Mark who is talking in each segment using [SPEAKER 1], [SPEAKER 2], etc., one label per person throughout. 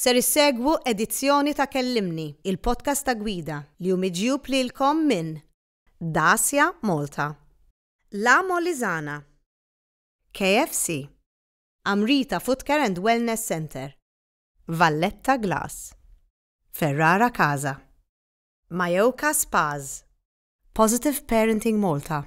[SPEAKER 1] Ser issegwu edizzjoni ta' Kellimni, il-podcast ta' Gwida, li hu miġjub lilkom minn Dacia Malta, La Molisana, KFC, Amrita Footcare and Wellness Centre, Valletta Glass, Ferrara Casa, Mayoka Spas, Positive Parenting Malta,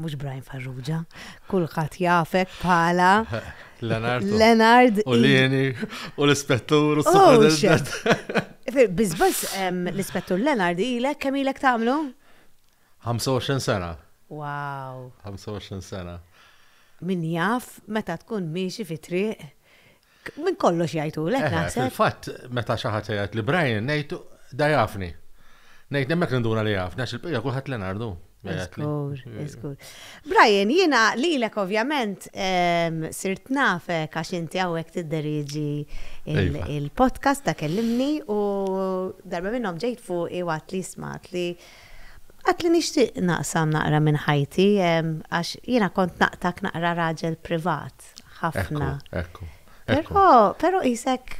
[SPEAKER 1] mhux Brian Farrugia, kulħadd jafek bħala Leonard. Leonard. U Lini,
[SPEAKER 2] u l-ispettur, u oh, s-superintendent.
[SPEAKER 1] Bizbaz, l-ispettur Leonard ilek, kemm ilek tagħmlu? 25
[SPEAKER 2] sena. Wow. 25
[SPEAKER 1] sena.
[SPEAKER 2] Min
[SPEAKER 1] jaf meta tkun miexi fi triq Minn kollox jajtu, l-ek naħseb. Fil-fat, meta
[SPEAKER 2] xaħat jgħat li Brian, nejtu, da jafni. Nejt nemmek ninduna li jafni, għax il-pija kullħat l-nardu. Iskur,
[SPEAKER 1] iskur. Brian, jina li l-ek ovvjament sirt nafe għax inti għawek t-deriġi iva. il-podcast ta' kellimni u darba minnom ġejt fuq i għat li smat li Għat li nixtieq naqsam naqra minn ħajti, għax jiena kont naqtak naqra raġel privat. ħadd ħafna. Ekku,
[SPEAKER 2] ekku. Però
[SPEAKER 1] isek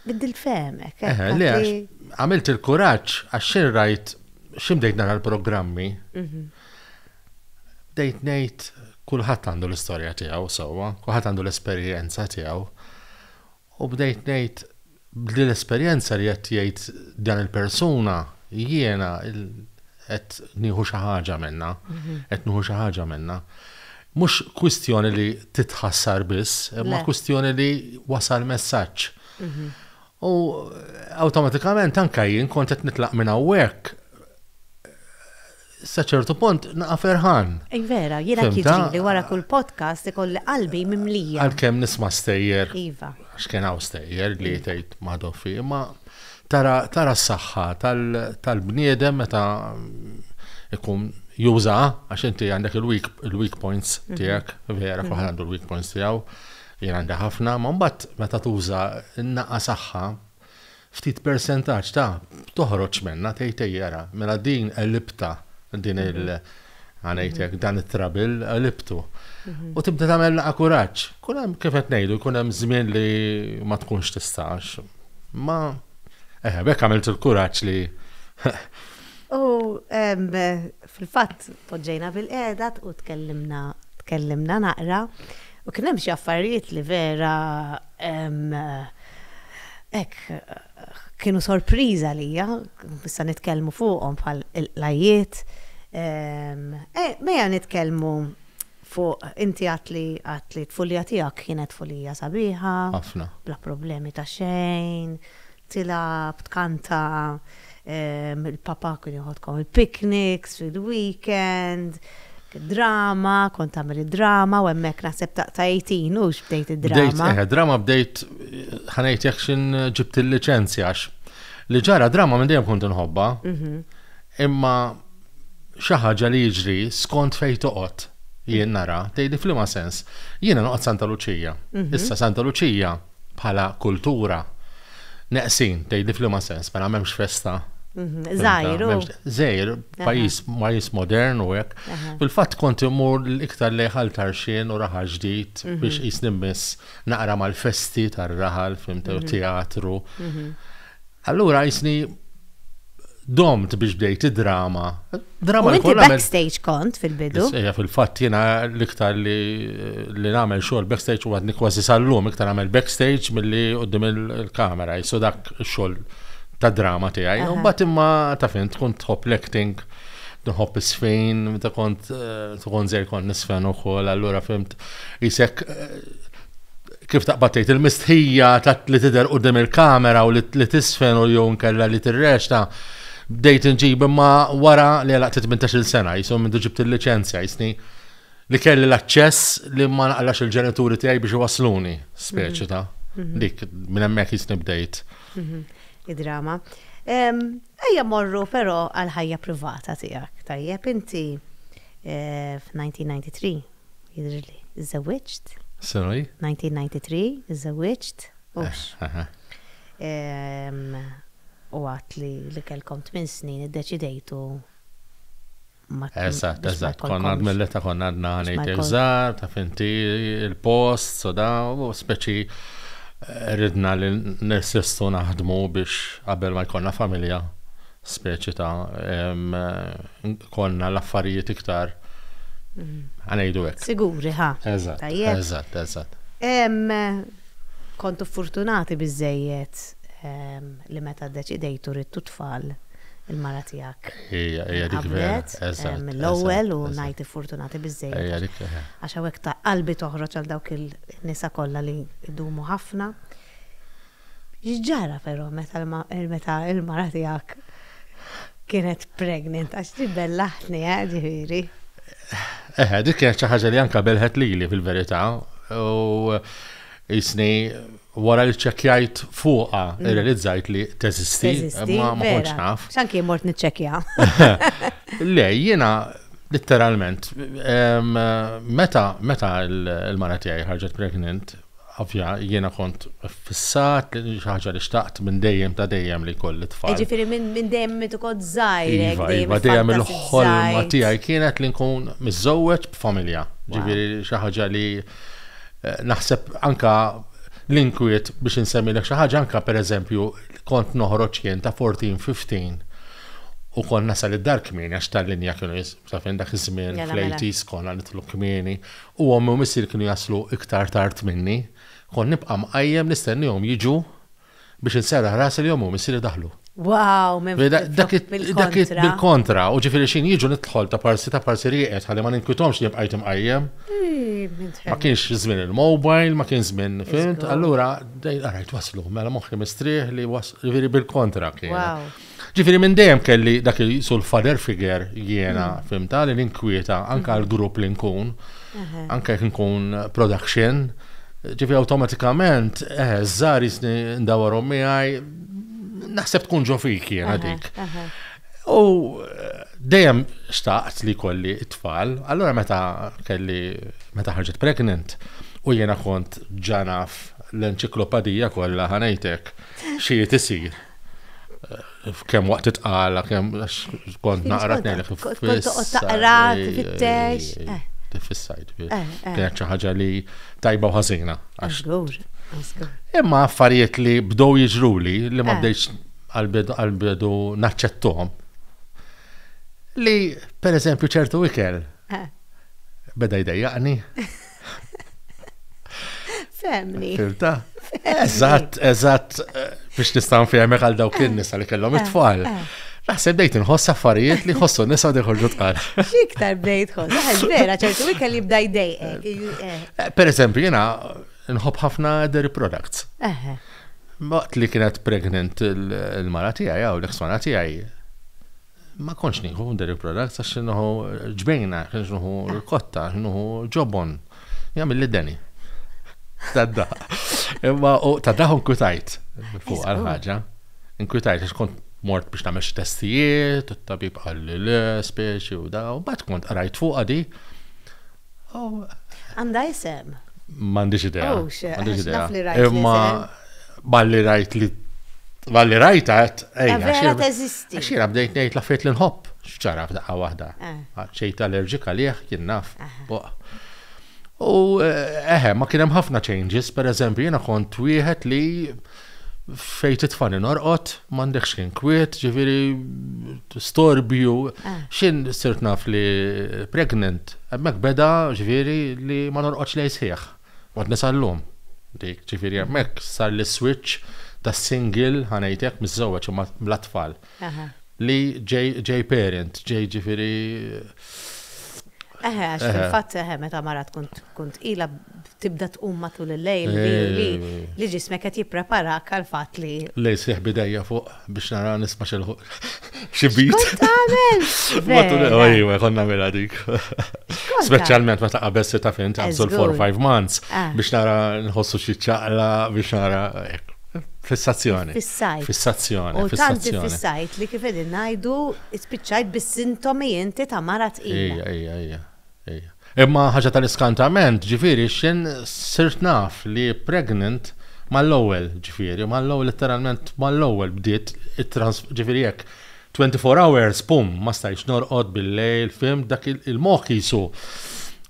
[SPEAKER 1] biddilt femek.
[SPEAKER 2] Għamilt il-kuraġġ għax xi rajt x'imdejt nara l-programmi. Mhm. Bdejt ngħid kulħadd għandu l-istorja tiegħu sewwa, kulħadd għandu l-esperjenza tiegħu. U bdejt ngħid, b'din l-esperjenza li qed jgħid dan il-persuna, jiena qed nieħu xi ħaġa minnha, qed nieħu xi ħaġa minnha. Mhux kwistjoni li titħassar biss, imma kwistjoni li wasal messaġġ. U awtomatikament anke jien kont qed nitlaq minn hawnhekk sa ċertu punt naqa ferħan. Ej vera, jiena
[SPEAKER 1] kidri li wara kull podcast ikolli qalbi mimlija. Għalkemm nisma
[SPEAKER 2] stejjer. Iva. X'kien
[SPEAKER 1] hawn stejjer
[SPEAKER 2] li iva. tgħid ma dofi, ma tara tara s-saħħa tal-bniedem meta ikun juża għax inti għandek il-weak points mhm. tiegħek, vera kuħan mhm. għandu l-weak points tiegħu, jien għandi ħafna, ma mbagħad meta tuża n-naqqa saħħa ftit persentaġġ ta' toħroġ minnha tgħid ejja ara mela din qelibtha din il- ħa ngħid hekk dan it-trabil qelibtu. Mhm. U tibda tagħmel laqa' kuraġġ. Kun hemm kif qed ngħidu jkun hemm żmien li ma tkunx tistax. Ma eħe bekk għamilt il-kuraġġ li
[SPEAKER 1] U Fil-fatt poġġejna bilqiegħda u tkellimna tkellimna naqra u kien hemm xi affarijiet li vera hekk kienu sorpriża għalija, issa nitkellmu fuqhom bħal il-qlajjiet. Mejja nitkellmu Fuq, inti għedt li għedt li t-tfulija tiegħek kienet tfulija sabiħa. Ħafna. Bla problemi ta' xejn, tilgħab, tkanta, il-papa kien joħodkom il-picnics fil-weekend, drama, kont tagħmel id-drama u hemmhekk naħseb ta' 18 hux bdejt id-drama. Bdejt, eħe, drama bdejt
[SPEAKER 2] ħanejt jekk x'in ġibt il-liċenzja għax li ġara drama minn dejjem kont inħobba. Imma xi ħaġa li jiġri skont fejn toqgħod jien nara, tgħidli f'liema sens. Jiena noqgħod Santa Luċija. Mhm. Issa Santa Luċija bħala kultura neqsin, tgħidli f'liema sens, mela m'hemmx festa. Żgħir. Mhm. Żgħir, pajjiż pajjiż modern u hekk. Fil-fatt kont imur l-iktar leħal tarxien u raħal ġdid mhm. biex jisni miss naqra mal-festi tar-raħal, fimtew teatru. Allura jisni domt biex bdejt id-drama. Drama li kollha.
[SPEAKER 1] Backstage kont fil-bidu. Ejja fil-fatt jiena
[SPEAKER 2] l-iktar li li nagħmel xogħol backstage u għadni kważi sal-lum iktar nagħmel backstage milli qudiem il-kamera jisu dak xogħol ta' drama tiegħi. U mbagħad imma ta' fin tkun tħobb l-acting nħobb isfejn, ta' kont eh, tkun zej kont nisfen ukoll, allura fimt jisek eh, kif taqbad tgħid, il-mistħija ta' li tidher quddiem il-kamera u li tisfen u jew nkella li tirrexta bdejt inġib imma wara li għalaq 18-il sena jisom minn ġibt il-liċenzja jisni li kelli l-aċċess li ma naqlax il-ġenituri tiegħi biex iwasluni, speċi mhm. ta' mhm. dik minn hemmhekk jisni bdejt. Mhm. Id-drama.
[SPEAKER 1] Ejja morru però għal ħajja privata tiegħek. Tajjeb inti eh, f'1993 jidhirli. Żżewwiġt. Sena
[SPEAKER 2] hi?
[SPEAKER 1] 1993, żżewwiġt, hux. U għad li li kellkom tmien snin iddeċidejtu ma
[SPEAKER 2] Eżatt, eżatt, konna għad mill-età konna għadna ngħid żgħar, taf inti il-post, so da, u speċi eh, ridna li nesistu naħdmu biex qabel ma jkollna familja speċi ta' konna l-affarijiet iktar għanajdu hekk. Siguri, ha? Eżatt,
[SPEAKER 1] eżatt,
[SPEAKER 2] eżatt.
[SPEAKER 1] Kontu fortunati biżejjed li meta ddeċidejtu ridtu tfal il-mara tiegħek. Ija, ija dik
[SPEAKER 2] vera. Mill-ewwel
[SPEAKER 1] u ngħid fortunati biżejjed. Ija dik. Għax hawnhekk ta' qalbi toħroġ għal dawk il-nisa kollha li jdumu ħafna. X'ġara però meta meta l-mara tiegħek kienet pregnant għax din bellaħtni eh, ġifieri.
[SPEAKER 2] Eħe, dik kienet xi ħaġa li anke belħet lili fil-verità u jisni wara li ċċekkjajt fuqa mm. irrealizzajt li teżisti ma ma kontx naf. X'anki mort niċċekkja. Le, jiena Literalment, meta meta l-mara tiegħi ħarġet pregnant, Ovvja, jiena kont iffissat li xi ħaġa li xtaqt minn dejjem ta' dejjem li jkolli tfal. Jiġifieri minn minn dejjem
[SPEAKER 1] minn meta kont żgħir hekk Iva, dejjem iva, dejjem il-ħolma
[SPEAKER 2] iffantażizzajt. tiegħi kienet li nkun miżżewweġ b'familja. Wow. Ġifieri xi ħaġa li eh, naħseb anka l-inkwiet biex insemmilek xi ħaġa anka pereżempju kont noħroġ jien ta' 14, 15 u kont nasal id-dar kmieni għax tal-linja kienu jis- taf jien dak iż-żmien Mela, mela. fl-80s konna nidħlu kmieni u ommi u missieri kienu jaslu iktar tard minni, kont nibqa' mqajjem nistennihom jiġu biex inserraħ rasi li ommi u missieri daħlu. Wow, minn
[SPEAKER 1] flok, bil-kontra.
[SPEAKER 2] Dak it, bil-kontra, u ġifieri x'in jiġu nidħol ta' parsi ta' parsi rieqed ħalli ma ninkwithomx li bqajt imqajjem. Ma kienx żmien il-mobile, ma kien żmien, fimt, allura, ara jtwasslu, mela moħħi mistrieħ li, ġifieri bil-kontra kien. Ġifiri minn dejjem kelli dak il sul father figure jiena mm. fimta li l-inkwieta anka mm-hmm. għal-grupp li nkun, anka jek nkun production, ġifiri automatikament, eh, zzar jisni ndawarom miħaj, naħseb tkun ġofik jiena dik. U eh, dejjem xtaqt li kolli it-tfal, allora meta kelli, meta ħarġet pregnant, u jiena kont ġanaf l-enċiklopedija kollha ħanajtek xi tisir. Kem waqt titqala, kem kont naqra tnejlek. Kont toqgħod taqra,
[SPEAKER 1] tifittex. Tifissajt.
[SPEAKER 2] Kienet xi ħaġa li tajba u ħażina. Imma affarijiet li bdow jiġruli li ma bdejx għal-bidu naċċettom. Li, per eżempju, ċertu ikel beda jdejjaqni.
[SPEAKER 1] Femni. Filta?
[SPEAKER 2] Eżatt, eżatt, eh, biex nistan femmek għal dawk eh. in-nisa li kellhom eh, it-tfal. Naħseb bdejt nħoss affarijiet li ħossu nisa diħorġu tqal. Xiktar bdejt
[SPEAKER 1] ħoss, vera, ċertu wikka li bdaj dej. Per eżempju, jena
[SPEAKER 2] nħob ħafna dairy products. Waqt li kienet pregnant il-mara tijaj, għaw l-eksmana tijaj, Ma kontx nieħu dairy products għax nieħu ġbejna, kienx nieħu l-kotta, nieħu ġobon. Jagħmel li deni. Tadda. Imma u tadda nkwitajt fuq għal ħaġa. Nkwitajt għax kont mort biex nagħmel xi testijiet, u t-tabib qal li le, speċi u da, u bat kont qrajt fuq għadi.
[SPEAKER 1] Għandha isem? M'għandix idea.
[SPEAKER 2] Oh, m'għandix idea.
[SPEAKER 1] Imma
[SPEAKER 2] balli rajt li balli rajt għat, ej, vera teżisti.
[SPEAKER 1] Xira bdejt ngħid la fejt
[SPEAKER 2] l-inħobb, xċara f'daqqa waħda. Eh. Ċejt allerġika liħ kien naf. U eh, eħe, ma kien hemm ħafna changes, per eżempju, jiena kont wieħed li fejn titfani norqod, m'għandekx xejn kwiet, ġifieri storbju, ah. x'in sirt naf li pregnant, hemmhekk beda ġifieri li ma norqodx lej sħiħ. Għad nisallum. Dik ġifieri hemmhekk sar l-switch tas-single ħanejtek miż-żewġ imma bla tfal. li ġej parent, ġej ġifiri.
[SPEAKER 1] Eħe, għax fil-fatt
[SPEAKER 2] eħe,
[SPEAKER 1] meta mara tkun tkun tqila tibda tqum matul il-lejl li li ġismek qed jipprepara għal fatt li. Lej sieħ bidejja
[SPEAKER 2] fuq biex nara nisma' xi xi bit. Tagħmel! Matul il-lejl konna mela dik. Speċjalment meta qabel se ta' fin ta' 4-5 months biex nara nħossu xi ċaqla biex nara hekk. Fissazzjoni. Fissajt. Fissazzjoni.
[SPEAKER 1] U tant
[SPEAKER 2] fissajt
[SPEAKER 1] li kif qegħdin ngħidu spiċċajt bis-sintomi inti ta' mara tqila. Ejja, ejja, ejja.
[SPEAKER 2] Ejja. Imma ħaġa tal-iskantament, ġifieri x'in sirt naf li pregnant mal-ewwel, ġifieri mal-ewwel letteralment mal-ewwel bdiet ġifieri hekk Twenty four hours, pum, ma stajx norqod bil-lejl, fim, dak il-moħ jisu.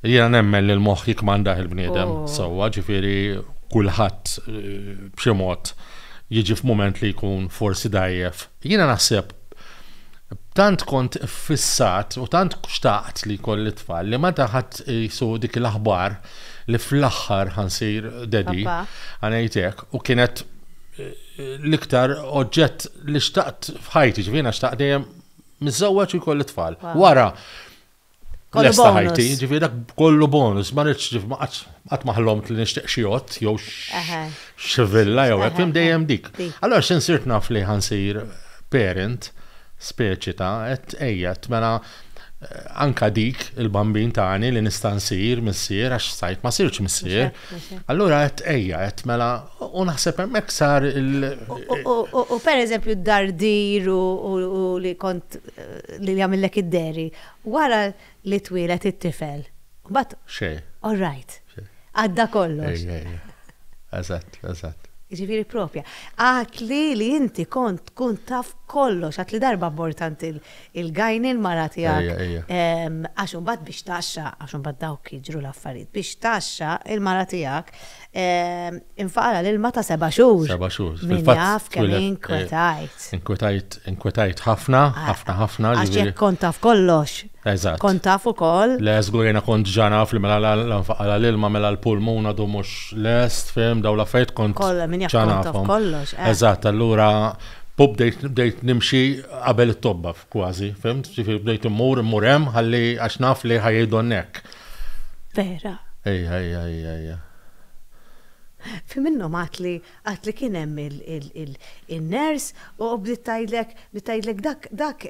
[SPEAKER 2] Jiena nemmen li l-moħ jikmandah il-bniedem, oh. sowa, ġifiri kulħadd eh, b'xi mod jiġi f'mument li jkun forsi dajjef. Jiena naħseb tant kont fissat u tant xtaqt li kolli tfal li ma taħat jisu dik l-aħbar li fl-axħar ħansir dedi għanajtek u kienet eh, l-iktar oġġett li xtaqt f'ħajti, ġivina xtaqt dejjem mizzawġ u kolli tfal. Wara, kollu ħajti, ġivina kollu bonus, ma rridx ġif qatt maħlomt li nixtieq xi jott jew xivilla jew hekk fim dejjem dik. Allora x'insirt naf li ħansir parent speċi ta' qed ejja mela anka dik il-bambin tani li nista' nsir missier għax sajt ma sirx missier. Allura qed ejja qed mela u naħseb hemmhekk sar il
[SPEAKER 1] U pereżempju d-dardir u li kont li jagħmillek id-deri wara li twieled it-tifel. Mbagħad. Xejn. All
[SPEAKER 2] right.
[SPEAKER 1] Għadda kollox. Eżatt,
[SPEAKER 2] eżatt. Jiġifieri
[SPEAKER 1] proprja. Għatli li inti kont tkun taf kollox, għatli darba mort għand il- il-gajni l-mara tiegħek. Għax imbagħad biex taxxa, għax imbagħad dawk jiġru l-affarijiet, biex taxxa il-mara tiegħek infaqala l-ilma ta' seba' xhur. Seba' xhur. Min jaf
[SPEAKER 2] kemm
[SPEAKER 1] inkwetajt. Inkwetajt, inkwetajt
[SPEAKER 2] ħafna, ħafna, ħafna. Għax
[SPEAKER 1] jekk kont taf kollox. Eżatt. Kont taf
[SPEAKER 2] ukoll.
[SPEAKER 1] Le, żgurina kont
[SPEAKER 2] ġanaf li mela l-infaqala l-ilma mela l-pulmuna du mhux lest, fim, daw l-affarijiet kont. Kollha min jaf kont taf kollox. Eżatt, allura U bdejt bdejt nimxi qabel it-tobba kważi, fhimt? Ġifieri bdejt immur immur hemm ħalli għax naf li ħa jgħidulni hekk. Vera?
[SPEAKER 1] Ejja, ejja, ejja,
[SPEAKER 2] ejja.
[SPEAKER 1] Fi minnhom għad li għad li kien hemm in-nurse u bdiet tgħidlek bdiet tgħidlek dak dak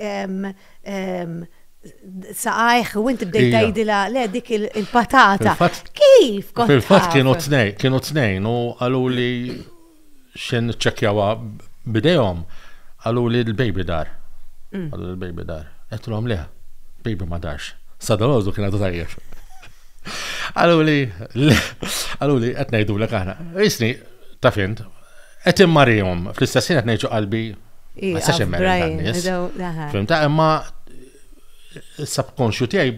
[SPEAKER 1] saqajh u inti bdejt tgħidilha le dik il-patata. Kif kont taf? Fil-fatt kienu t-tnejn,
[SPEAKER 2] kienu t-tnejn u qaluli xejn niċċekkjawha b'idejhom, qaluli l-baby dar. Mm. Qalu l-baby dar. Qedlhom le, baby ma darx. Sadalożu kien għadu tajjeb. Qalu li, qalu li qed ngħidulek aħna. Isni ta' fint, qed immarihom fl-istess ħin qed ngħidu qalbi ma sax immerri tan-nies. Fimta imma subconscious tiegħi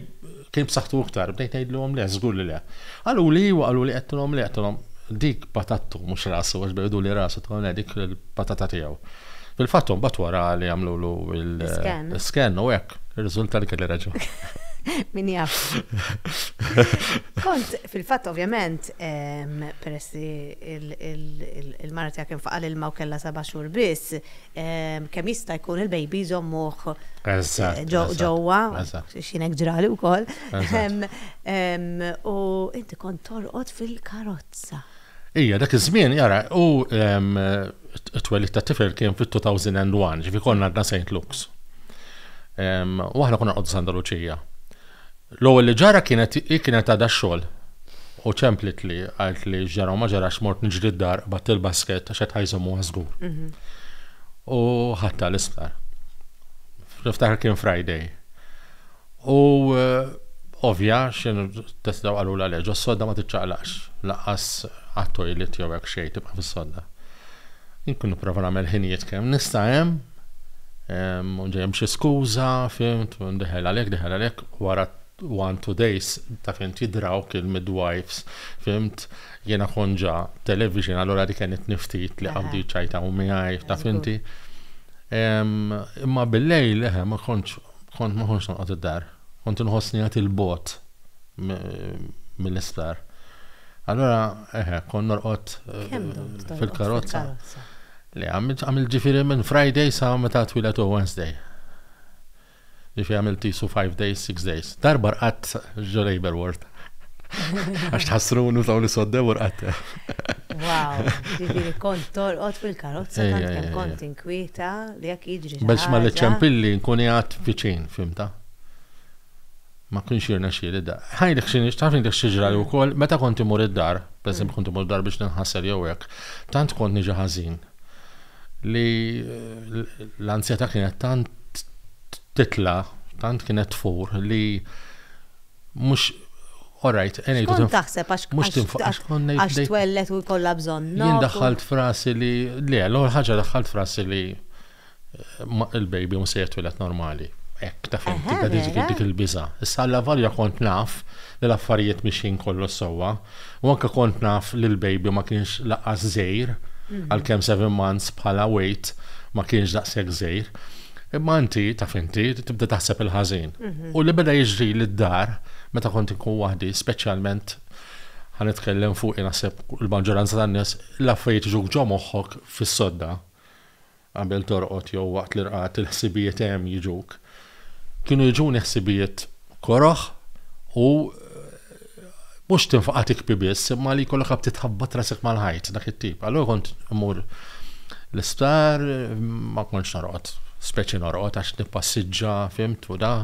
[SPEAKER 2] Kien b'saħħtu iktar, bdejt ngħidilhom le, żgur li le. Qaluli iwa, qaluli qedtilhom le, qedtilhom dik patattu mhux rasu għax bejdu li rasu tilhom le dik il-patata tiegħu. Fil-fatt imbagħad wara li għamlulu l-scan u hekk, irriżulta li kelli raġun. Min jaf.
[SPEAKER 1] Kont fil-fatt ovvjament peress li l-mara tiegħek infaqa' l-ilma u kellha seba' xhur biss, kemm jista' jkun il-baby jżommuh ġewwa, x'inhekk ġrali wkoll. U inti kont torqod fil-karozza. Ija, dak
[SPEAKER 2] iż-żmien, jara, u t-twelid ta' tifel kien fit-2001, ġifi konna għadna St. Luke's. U aħna konna għoddu Santa Luċija. L-ewwel li ġara kienet hi kienet għadha x-xogħol u ċemplitli, qaltli x'ġara u ma ġarax mort niġri d-dar qbadt il-basket għax qed ħa jżommuha żgur. U ħadtha l-isptar. Niftakar kien Friday. U ovvja x'inhu testa qalulha le ġo s-sodda ma tiċċaqlaqx, lanqas għat-toilet jew hekk xejn tibqa' fis-sodda. Inkun nipprova nagħmel ħinijiet kemm nista' hemm, ġejjem xi skuża, fimt, deħel għalhekk, deħel għalhekk, wara one two days ta' fint jidrawk il-midwives, fimt, jiena kont ġa television allura dik kienet niftit li qabdi ċajtaw miegħi, taf inti. Imma bil-lejl, eħe, ma kontx kont ma kontx noqgħod id-dar. Kont inħossni għad il-bogħod mill-isptar. Allura, eħe, kon norqod fil-karozza. Le, għamil ġifiri minn Friday sa' meta twilet u Wednesday. Ġifiri għamil tisu 5 days, 6 days. Darba rqat ġo labor ward. Għax tħassrunu taw li soddew u rqat. Wow, ġifiri
[SPEAKER 1] kont torqot fil-karozza, tant kem kont inkwieta. Li jekk jiġri xi Biex ma ħaġa- l-ċempilli
[SPEAKER 2] nkun qiegħed viċin, fhimtha. Ma kienx jirnexxieli da. Ħajlek xi nix- taf ngħidlek xi ġrali wkoll, meta kont imur id-dar, pereżempju kont imur id-dar biex ninħasel jew hekk, tant kont niġi ħażin li l- l-anzjetà kienet tant titla, tant kienet tfur li mhux Orajt, enejtu. Kont taħseb
[SPEAKER 1] għax mhux tinfaqax kont ngħid. Għax twellet u jkollha bżonn. Jien daħħalt frasi
[SPEAKER 2] li le, l-ewwel ħaġa daħħalt frasi li eh, il-baby mhux se jitwieled normali. Hekk ta' fejn tibda dik il-biża. Issa alla valja kont naf li l-affarijiet mixin kollu sewwa, U anke kont naf li l-baby ma kienx lanqas żgħir, għalkemm seven months bħala weight ma kienx daqshekk żgħir. Imma inti, taf inti, tibda taħseb il-ħażin. U li beda jiġrili d-dar, meta kont inkun waħdi, speċjalment, ħa nitkellem fuqi naħseb il-maġġoranza tan-nies, l-affarijiet jiġuk ġo moħħok fis-sodda. Qabel torqod jew waqt l-irqad il-ħsibijiet hemm jiġuk. Kienu jiġuni ħsibijiet koroh u mhux tinfaqa' tikbi biss imma li jkollok ħabti tħabbat rasek mal-ħajt dak it-tip. Allura kont immur l-isptar ma kontx norqod, speċi norqod għax nippassiġġa fimt u da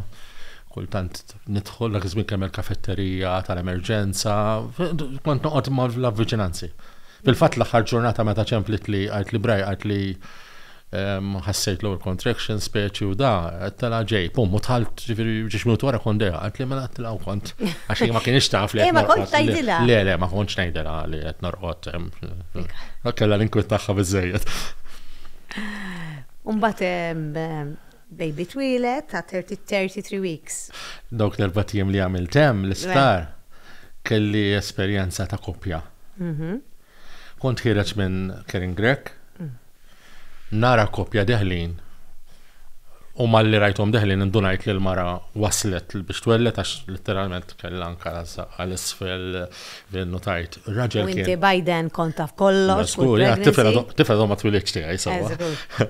[SPEAKER 2] kultant nidħol dak iż-żmien kemm il-kafetterija tal-emerġenza, kont noqgħod ma' l-avviċinanzi. Fil-fatt l-aħħar ġurnata meta ċemplit li għajt li braj għajt li ehm, ħassejt l-ewwel contraction speċi u da, tela ġej, pum, u tħalt ġifieri ġiex minuti wara kont dejja, għajt li mela tela u kont għax ma kienx taf li. Eh, ma kont tgħidilha.
[SPEAKER 1] Le, le, ma kontx ngħidilha
[SPEAKER 2] li qed norqod. Ehm, Kellha l-inkwit tagħha biżejjed.
[SPEAKER 1] Umbat ehm, Baby twieled ta' 33 weeks. Dawk l-erbat
[SPEAKER 2] jiem li għamilt hemm l-isptar kelli esperjenza ta' koppja. Kont ħiereġ minn Karen Grech, nara koppja deħlin u malli rajthom deħlin indunajt li l-mara waslet biex twelled għax litteralment kellha anke rażżaq għal isfel fejn nutajt raġel kien. U inti by then
[SPEAKER 1] kont
[SPEAKER 2] taf
[SPEAKER 1] kollox. Żgur, ja, t-tifel
[SPEAKER 2] għadu ma twilidx tiegħi sewwa.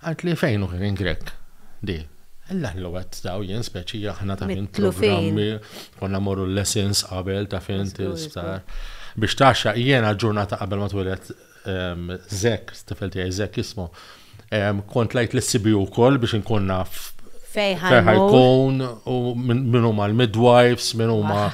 [SPEAKER 2] Għad li fejn hu kien Grech di. Ellaħ li wet daw jien speċi aħna ta' fin programmi konna morru l-lessons qabel ta' fin tistar. Biex taxxa jiena ġurnata qabel ma twilet ehm, Zek, stifel tiegħi Zek jismu. Ehm, kont lajt li sibi wkoll biex inkun naf fejħajkun u minn huma l-midwives, minn huma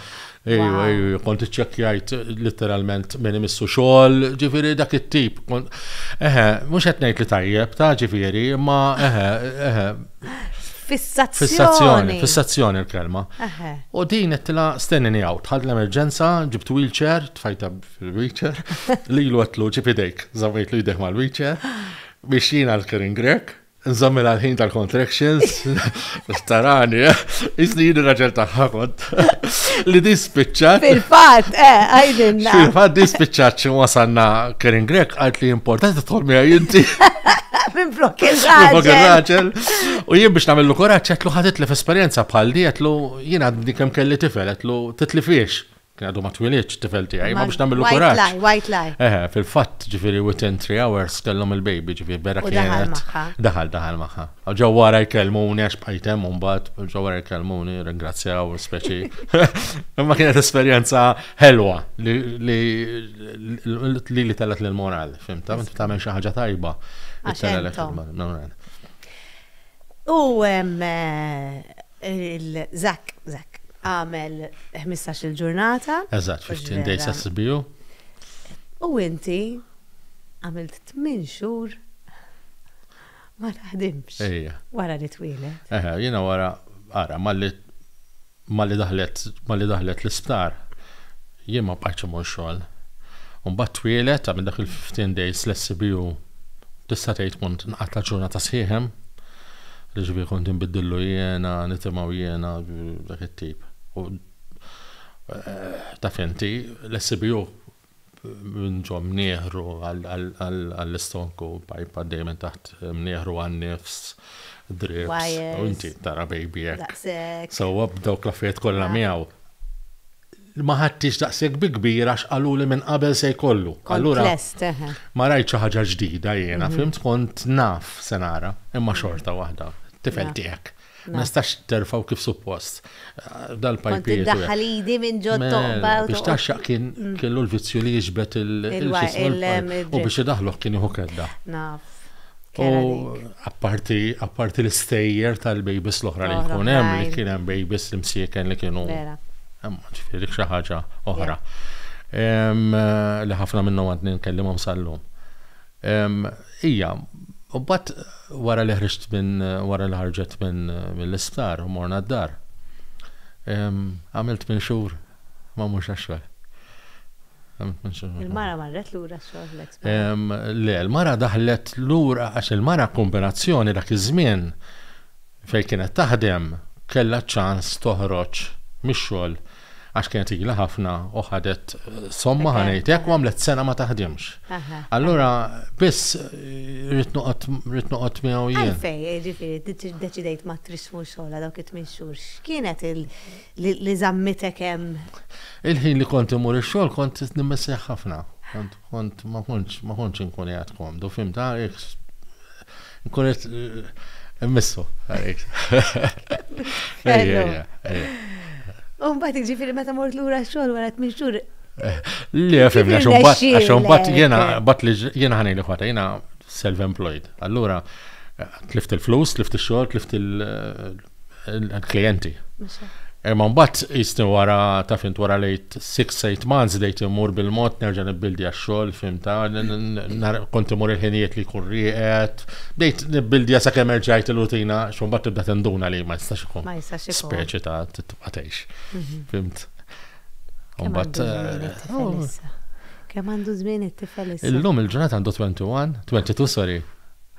[SPEAKER 2] Ejju, ejju, kont iċċekkjajt literalment minn imissu xogħol, ġifieri dak it-tip. Eħe, mhux qed ngħid li tajjeb ta' ġifieri, imma eħe, eħe. Fissazzjoni. Fissazzjoni, fissazzjoni l-kelma. U din qed tilha stennini għaw, tħad l-emerġenza, ġibt wheelchair, tfajta fil-wheelchair, lilu qed lu ġib idejk, żammejt lu jdejh mal-wheelchair, biex jiena l-Kering Grek, Nżammel għal-ħin tal-contractions, starani, eh? Isni jini raġel taħħa kont. Li di spiċċat. Fil-fat, eh,
[SPEAKER 1] għajdinna. Fil-fat di spiċċat
[SPEAKER 2] xin wasanna Karen Grek għalt li importanti tħolmi għajinti.
[SPEAKER 1] Minn flok il-raġel. U jien biex
[SPEAKER 2] namillu koraċ, għetlu ħadit li f-esperienza bħal di, għetlu jien għadni kem kelli tifel, għetlu titli fiex. Kien għadu ma twilidx tifel tiegħi, ma biex nagħmlu kuraġġ. White lie, white lie. Eħe,
[SPEAKER 1] fil-fatt ġifieri
[SPEAKER 2] within three hours kellhom il-baby ġifieri vera kien. Daħal magħha. Daħal daħal magħha. Ġew wara jkellmuni għax bqajt hemm mbagħad, ġew wara jkellmuni, ringrazzjaw speċi. Imma kienet esperjenza ħelwa li li li tellet lil moral, fimta, inti tagħmel xi ħaġa tajba. Għax
[SPEAKER 1] U Il-Zak, Zak, għamel ħmistax-il ġurnata. Eżatt, fifteen days
[SPEAKER 2] SSBU.
[SPEAKER 1] U inti għamilt tmien xhur ma taħdimx. Ejja. Wara li twieled. Eħe, jiena wara,
[SPEAKER 2] ara, malli malli daħlet malli daħlet l-isptar, jien ma bqajtx immur xogħol. U mbagħad twieled, għamilt dak il-fifteen days l-SSBU, tista' tgħid kont nqatgħat ġurnata sħiħ hemm. li ġifieri kont inbiddillu jiena, nitimgħu jiena, dak it-tip. U taf inti, l-SBU minn ġo mnieħru għall-istonku, pajp għaddej minn taħt mnieħru għan-nifs, drips, u inti tara baby hekk. Sewwa b'dawk l-affarijiet kollha miegħu. ma ħadtix daqshekk bi kbir għax qaluli minn qabel se jkollu. Allura ma rajt xi ħaġa ġdida jiena, mhm. fimt kont naf se nara, imma xorta waħda tifel tiegħek. Ma nistax terfaw kif suppost. Eh, dal-pajpiet. Daħħal idi minn
[SPEAKER 1] ġod toqba. Biex taxxaq kien
[SPEAKER 2] mm. kellu l-vizzju li jiġbet il-ġisem. U biex idaħluħ kien iħu kedda. Naf. Apparti apparti l-istejjer tal-babies l-oħra li jkun hemm li kien hemm babies li msieken li kienu. Ġifieri xi ħaġa oħra. Li ħafna minnhom għadni nkellimhom sal-lum. Ija, u mbagħad wara li ħriġt minn wara li ħarġet minn mill-isptar u morna d-dar, għamilt minn xhur ma mhux għax-xogħol.
[SPEAKER 1] Il-mara marret lura xogħol l-ex. Le, il-mara
[SPEAKER 2] daħlet lura għax il-mara kombinazzjoni dak iż-żmien fejn kienet taħdem kellha ċans toħroġ mix-xogħol għax kienet ilha ħafna u ħadet somma ħanejtek u għamlet sena ma taħdimx. Allura biss rrid noqgħod miegħu jien. Fej, ġifieri,
[SPEAKER 1] deċidejt ma trismu xogħla dawk it-tmien xhur. X'kienet il- li żammitek hemm? Il-ħin li kont
[SPEAKER 2] immur ix-xogħol kont nimmissih ħafna. Kont ma kontx ma kontx inkun qiegħed komdu, fimt, ah, nkun qed immissu.
[SPEAKER 1] U mbagħad jiġifieri meta mort lura x-xogħol wara tmien xhur Le,
[SPEAKER 2] fimni, għaxum bat, għaxum bat, jena, bat li jena ħani li ħata, jena self-employed. Allura, tlift il-flus, tlift il-xol, tlift il- l-klijenti. Imma mbagħad jisni wara ta' fint wara lejt 6-8 months dejt imur bil-mod nerġa' nibbildi għax-xogħol fimta, kont imur il-ħinijiet li jkun rieqed, dejt nibbildi għasa kemm erġajt il-rutina, xumbat tibda tinduna li ma jistax ikun. Ma jistax ikun. Speċi ta' tibqa' tgħix. Mhm. Fimt. Mbagħad. Eh, oh.
[SPEAKER 1] Kemm għandu żmien it-tifel issa? Illum il-ġurnata għandu
[SPEAKER 2] 21, 22 sorry.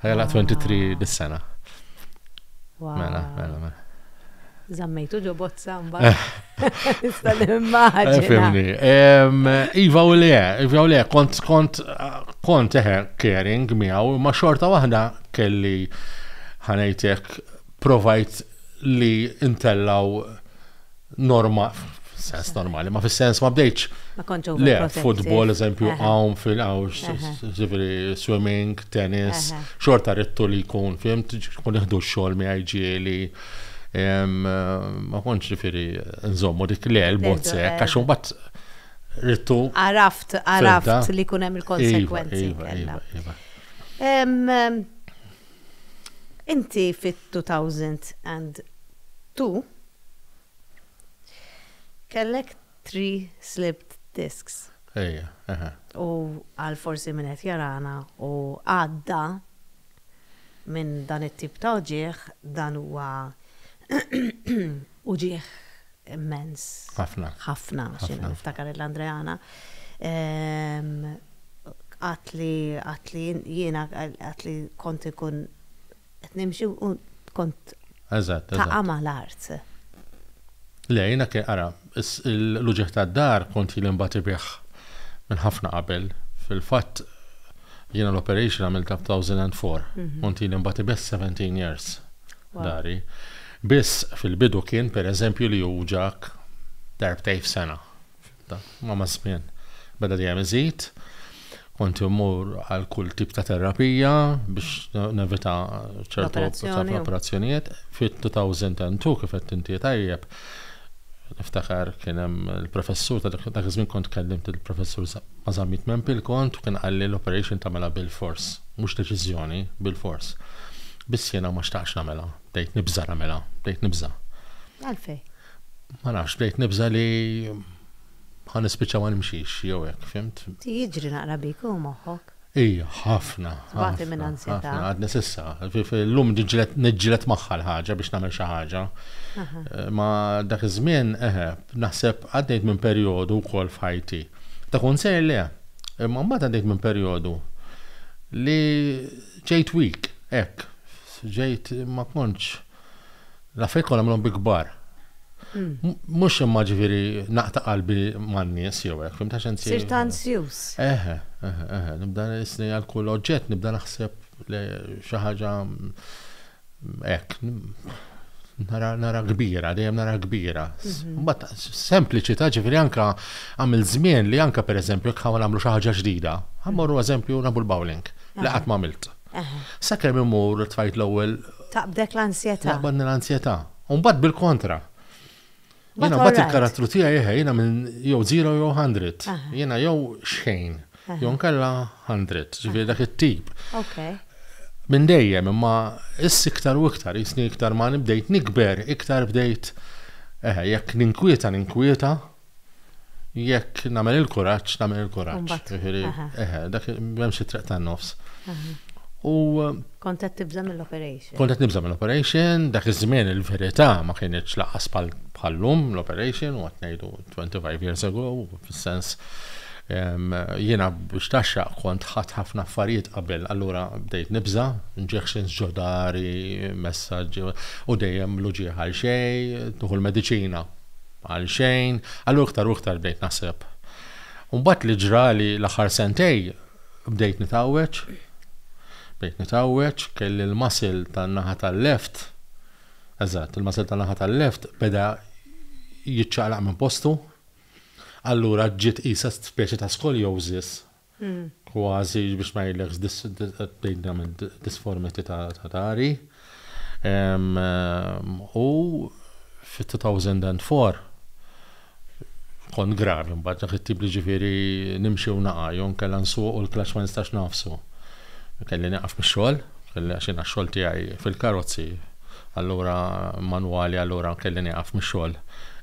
[SPEAKER 2] Ħajla 23 dis-sena. Mela, mela, mela. Zammejtu
[SPEAKER 1] ġo bozza mbagħad. Nista' nimmaġina.
[SPEAKER 2] Eh, iva u le, iva u le, kont kont kont eħe eh, caring miegħu, ma xorta waħda kelli ħanejtek provajt li intellaw norma, sens normali, ma fis-sens ma bdejċ. Ma kontx Le, futbol, eżempju, għawn fil-għaw, ġifiri, swimming, tennis, xorta rittu li jkun, fim, kun iħdu xol mi għajġieli. Ma kontx ġifiri, nżommu dik le, l-bozze, kaxum bat rittu. Għaraft, għaraft
[SPEAKER 1] li kunem il-konsekwenzi. Iva, iva, iva, iva. Inti fit-2002 Kellek three slipped disks. Ejja, eħe. U għal forsi min qed jarana u għadda minn dan it-tip ta' uġigħ, dan huwa uġigħ immens. Ħafna.
[SPEAKER 2] Ħafna, x'inhu
[SPEAKER 1] niftakar il-Andreana. Qatt li qatt li jiena qatt li kont ikun Qed nimxi u kont taqa' ma' l-art.
[SPEAKER 2] Le, jiena kien, ara, l-uġigħ tad-dar kont ili nbati bih minn ħafna qabel. Fil-fatt, jiena l-operation għamiltha b'thousand and four. Kont ili nbati bih seventeen years dari. Biss, fil-bidu kien, pereżempju, li juwġgħek darbtejn f'sena. Imma maż-żmien beda dejjem iżid. Kont immur għal kull tip ta' terapija biex nevita ċertu operazzjonijiet. Fit-2002 kif qed inti tajjeb, niftakar kien hemm il-professur ta' dak iż-żmien kont kellimt il-professur ma' żammit minn pil kont u kien qalli l-operation tagħmilha bilfors, mhux deċiżjoni, bilfors. Biss jiena ma xtaqtx nagħmilha, bdejt nibża' nagħmilha, bdejt nibża'. Għalfejn?
[SPEAKER 1] Ma nafx,
[SPEAKER 2] bdejt nibża' li ħa nispiċċa ma nimxix jew hekk, fhimt? Jiġri naqra bik
[SPEAKER 1] hu moħħok? Ija, ħafna.
[SPEAKER 2] Tbati minn ansjetà.
[SPEAKER 1] Ħafna, għadni s'issa.
[SPEAKER 2] Illum niġġieled magħha l-ħaġa biex nagħmel xi ħaġa. Ma dak iż-żmien, eħe, naħseb għaddejt minn perjodu wkoll f'ħajti. Ta' kunsejl le, imma mbagħad għaddejt minn perjodu li ġejt weak, hekk. Ġejt ma kontx. L-affarijiet kollha għamilhom bi kbar. Mhux imma ġifieri naqta' qalbi man-nies jew hekk, fhimt għax inti. Sirt anzjuż.
[SPEAKER 1] Eħe, eħe, eħe,
[SPEAKER 2] nibda nisni għal kull oġġett, nibda naħseb xi ħaġa hekk. Nara, nara kbira, dejjem nara kbira. Mhm. Mbagħad sempliċità ġifieri anke għamil żmien li anke pereżempju jekk ħawl nagħmlu xi ħaġa ġdida. Ħammorru eżempju nagħmlu l-bowling li qatt ma għamilt. Sakemm immur it-tfajt l-ewwel. Taqbdek l-ansjetà.
[SPEAKER 1] Taqbadni l-ansjetà.
[SPEAKER 2] U mbagħad bil-kontra. Jiena mbagħad il-karattru tiegħi eħe, jiena minn jew zero jew hundred. Jiena jew xejn, jew nkella hundred, ġifieri dak it-tip. Minn dejjem, imma issa iktar u iktar, jisni iktar ma bdejt nikber, iktar bdejt eħe, jekk ninkwieta, ninkwieta. jekk nagħmel il-kuraġġ, nagħmel il-kuraġġ. Ġifieri, eħe, dak hemm xi triq tan-nofs. U kont qed
[SPEAKER 1] tibża' mill-operation. Kont qed nibża' mill-operation,
[SPEAKER 2] dak iż-żmien il-verità ma kienx laqas bħal-lum l-operation u qed ngħidu 25 years ago, fis-sens jiena biex taxxa kont ħadd ħafna affarijiet qabel, allura bdejt nibża, injections ġodari, messaġġi u dejjem l-uġieħ għal xejn, tuħu l-mediċina Għalxejn, għal iktar u iktar bdejt naħseb. U mbagħad li ġrali l-aħħar sentej bdejt nitgħawweġ. Bdejt nitgħawweġ, kelli l-muscle tan-naħa tal-left, eżatt, il-muscle tan-naħa tal-left beda jiċċaqlaq minn postu. Allura ġiet qisha speċi ta' scoliosis kważi biex ma ngħidlekx tgħidilhom disformity ta' tari. U fit-2004 kont gravi mbagħad dak it-tip li ġifieri nimxi u naqa' jew inkella nsuq u l-klaċċ ma nistax nagħfsu. Kelli nieqaf mix-xogħol. Għax jiena x-xogħol tiegħi fil-karozzi, allura manwali allura kelli nieqaf mix-xogħol.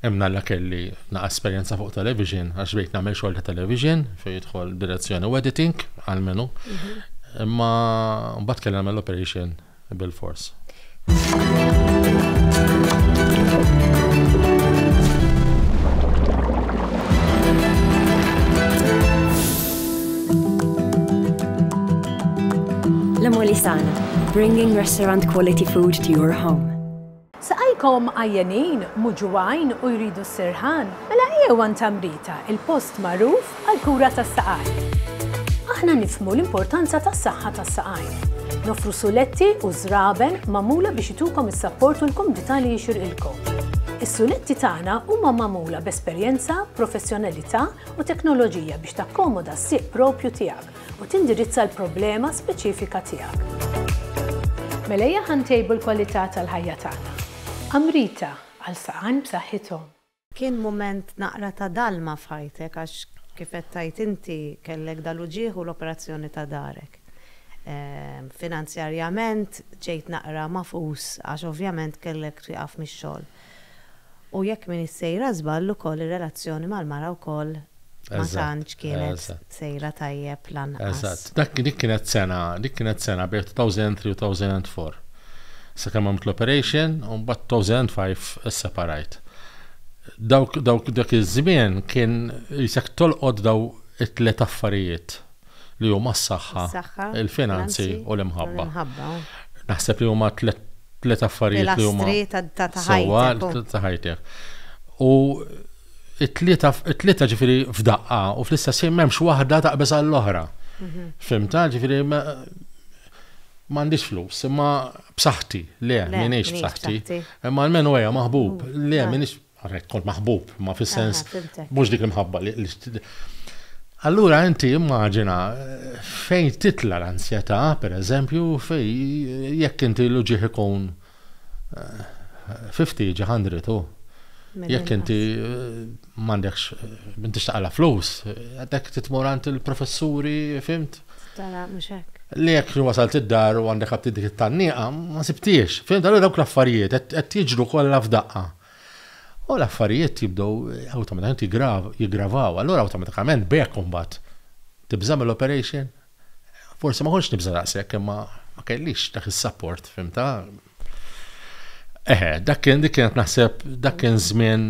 [SPEAKER 2] Hemm nalla kelli naqa' esperjenza fuq television għax bdejt nagħmel xogħol ta' television fejn jidħol direzzjoni u editing għal menu. Mhm. Imma mbagħad kelli nagħmel operation bil-fors.
[SPEAKER 3] La Molisana, bringing restaurant quality food to your home. Saqajkom
[SPEAKER 4] għajjenin, muġuwajn u jridu s-sirħan? Mela ejjew għand Tamrita, il-post magħruf għall-kura tas-saqajn. Aħna nifhmu l-importanza tas-saħħa tas-saqajn. Noffru suletti u żraben magħmula biex itukom is-sapport u l-kumdità li jixirqilkom. Is-suletti tagħna huma magħmula b'esperjenza, professjonalità u teknoloġija biex takkomoda s-sieq propju tiegħek. u tindirizza l-problema speċifika tiegħek. Mela ejja ħa ntejbu l-kwalità tal-ħajja tagħna. Amrita, għal saqajn b'saħħithom. Kien mument
[SPEAKER 1] naqra ta' dalma f'ħajtek għax kif qed tgħid inti kellek dal-uġigħ u l-operazzjoni ta' darek. Finanzjarjament ġejt naqra magħfus għax ovvjament kellek twieqaf mix-xogħol. U jekk m'iniex sejra żball ukoll ir-relazzjoni mal-mara wkoll ma tantx kienet sejra tajjeb lanqas. Eżatt. Dak dik kienet
[SPEAKER 2] sena, dik kienet sena bejn 2003 u 2004. Sakemm għamilt l-operation u mbagħad 2005 isseparajt. Dawk dawk dak iż-żmien kien qisek tolqot daw it-tliet affarijiet. li huma s-saħħa, il-finanzi u l-imħabba. Naħseb li huma tliet affarijiet li huma sewwa ta' ħajtek. U it-tlieta ġifieri f'daqqa u fl-istess ħin m'hemmx waħda taqbeż għall-oħra. Mhm. Fimta ġifieri m'għandix flus, imma b'saħħti, le, m'iniex b'saħħti. Imma almenu ejja maħbub, le, m'iniex Għarek, kont maħbub, ma fis-sens, mux dik imħabba li. Allura inti immaġina fejn titla l-ansjetà, per eżempju, fej jekk inti l-ġieħ ikun 50 eh, ġahandri tu. Jekk inti eh, mandekx, inti eh, xtaqla flus, għadek titmorant il-professuri, fimt? Tala, muxek.
[SPEAKER 1] Li jekk wasalt
[SPEAKER 2] id-dar u għandek għabti dik it-tanniqa, ma sibtiex. Fimt, għallu dawk l-affarijiet, għed jiġru kolla f'daqqa. U l-affarijiet jibdew awtomatikament jiggravaw. Allura awtomatikament b'hekk imbagħad tibża' mill-operation? Forsi ma kontx nibża' daqshekk imma ma kellix dak is-sapport, fimtha? Eħe, dak kien dik kienet naħseb dak kien żmien.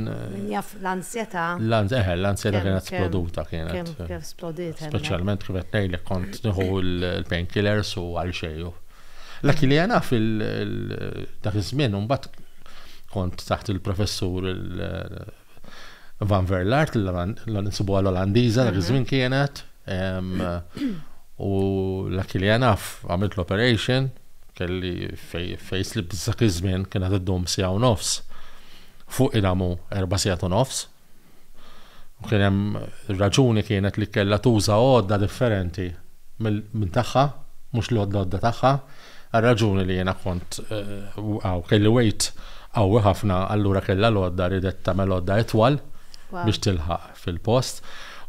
[SPEAKER 1] Jaf l-ansjetà. Eħe, l-ansjetà
[SPEAKER 2] kienet sploduta kienet. Kif splodiet hemmhekk.
[SPEAKER 1] Speċjalment kif qed
[SPEAKER 2] ngħidlek kont nieħu l-painkillers u għal xejn. L-aki li għana fil-dak iż-żmien, mbagħad kont taħt il-professur Van Verlart, l-nsibu għal-Olandiza, dak iż-żmien mhm. kienet, u l-aki li għana għamilt l-operation, kelli fejs li b'żak iż-żmien kienet id-dum sija u nofs fuq inamu erba' sijat u nofs, Kien hemm raġuni kienet li kellha tuża għodda differenti minn tagħha, mhux l-għodda tagħha, għal raġuni li jiena kont għaw eh, kelli wejt qawwi ħafna, allura kellha l-għodda ridet tagħmel għodda itwal biex tilħaq fil-post.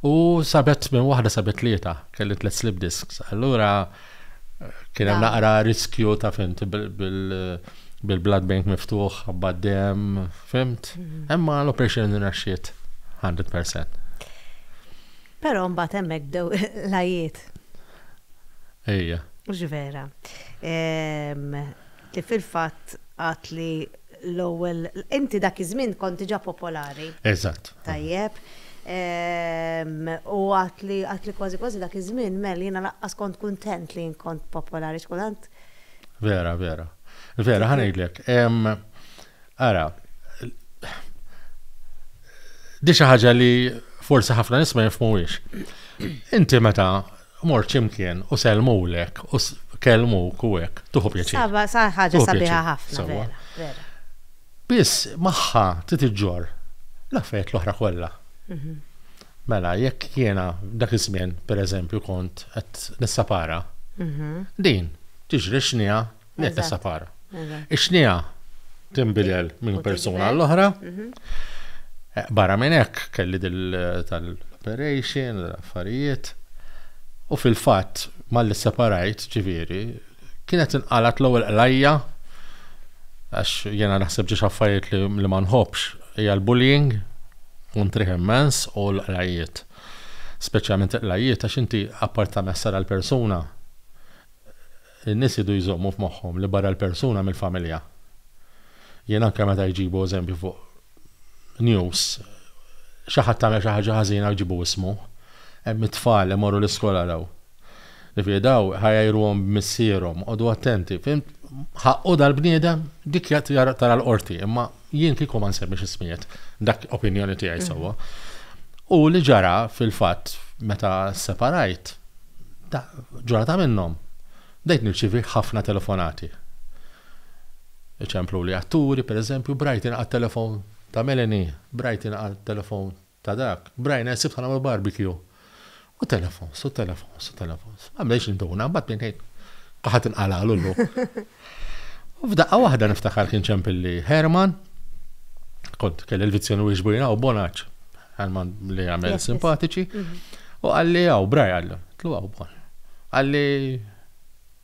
[SPEAKER 2] U sabet minn waħda sabet tlieta, kelli tliet slip disks. Allura Kien hemm naqra riskju ta' fimt bil-blood bank miftuħ, għabbad dem, fimt. Imma l-operation rinaxxiet 100%.
[SPEAKER 1] Però mbagħad hemmhekk bdew l-għajjiet.
[SPEAKER 2] Ejja. Mhux vera.
[SPEAKER 1] li fil-fatt għad li l-ewwel, inti dak iż-żmien kont diġà popolari. Eżatt. Tajjeb. U għad li għad li kważi kważi dak iż-żmien mel jiena lanqas kont kuntent li jien kont popolari x'kultant. Vera,
[SPEAKER 2] vera. Vera, ħa ngħidlek. Ara, di xi ħaġa li forsi ħafna nies ma jifhmuhiex. Inti meta Mor x'imkien u sellmulek u kellmuk u hekk, tuħu pjaċir. Saba, sa ħaġa sabiħa
[SPEAKER 1] ħafna, vera, vera. Biss
[SPEAKER 2] magħha trid iġġorr l-affarijiet l-oħra kollha. Mhm. Mela, jekk jiena dak iż-żmien, pereżempju, kont qed nissapara, mhm. din tiġri x'niha Neqes sapara. Ix-xnija tinbidel minn persuna l-oħra. Mhm. Eh, barra minn hekk kelli dil tal-operation, affarijiet. U fil-fatt, malli separajt, ġifieri, kienet inqalat l-ewwel qlajja għax jena naħseb ġiex affarijiet li ma nħobbx hija l-bullying u ntriħ immens u l-qlajiet. Speċjalment l-qlajiet għax inti apparta messa l-persuna In-nies jridu jżommu f'moħħhom li barra l-persuna mill-familja. Jien anke meta jġibu eżempju fuq news, xi ħadd għamel xi ħaġa ħażina u jġibu ismu. Hemm it-tfal li jmorru l-iskola jaraw. Jiġifieri daw iħajjruhom b'missierhom, qogħdu attenti, fhimt? Ħaqqu dal-bniedem? Dik tara l-qorti, imma. Jien kieku ma nsemmix ismijiet, dak opinjoni tiegħi sewwa. U li ġara fil-fatt meta separajt, ġurata minnhom, dejt nirċivi ħafna telefonati. Iċemplu li atturi, per eżempju, brajt inqat telefon ta' Melanie, brajt inqat telefon Ta' dak, Brian għeżżi bħala ma' barbecue. U telefons, u telefons, u telefons. Ma bdejx induna, mbagħad minn hekk qaħat inqalagħlu l U f'daqqa waħda niftakar kien ċempilli Herman, kont kelli l-vizzjoni u xbujna u bonaċ, Herman li għamel simpatiċi, mhm. u għalli għaw, braj għallu, tlu għaw bon. Għalli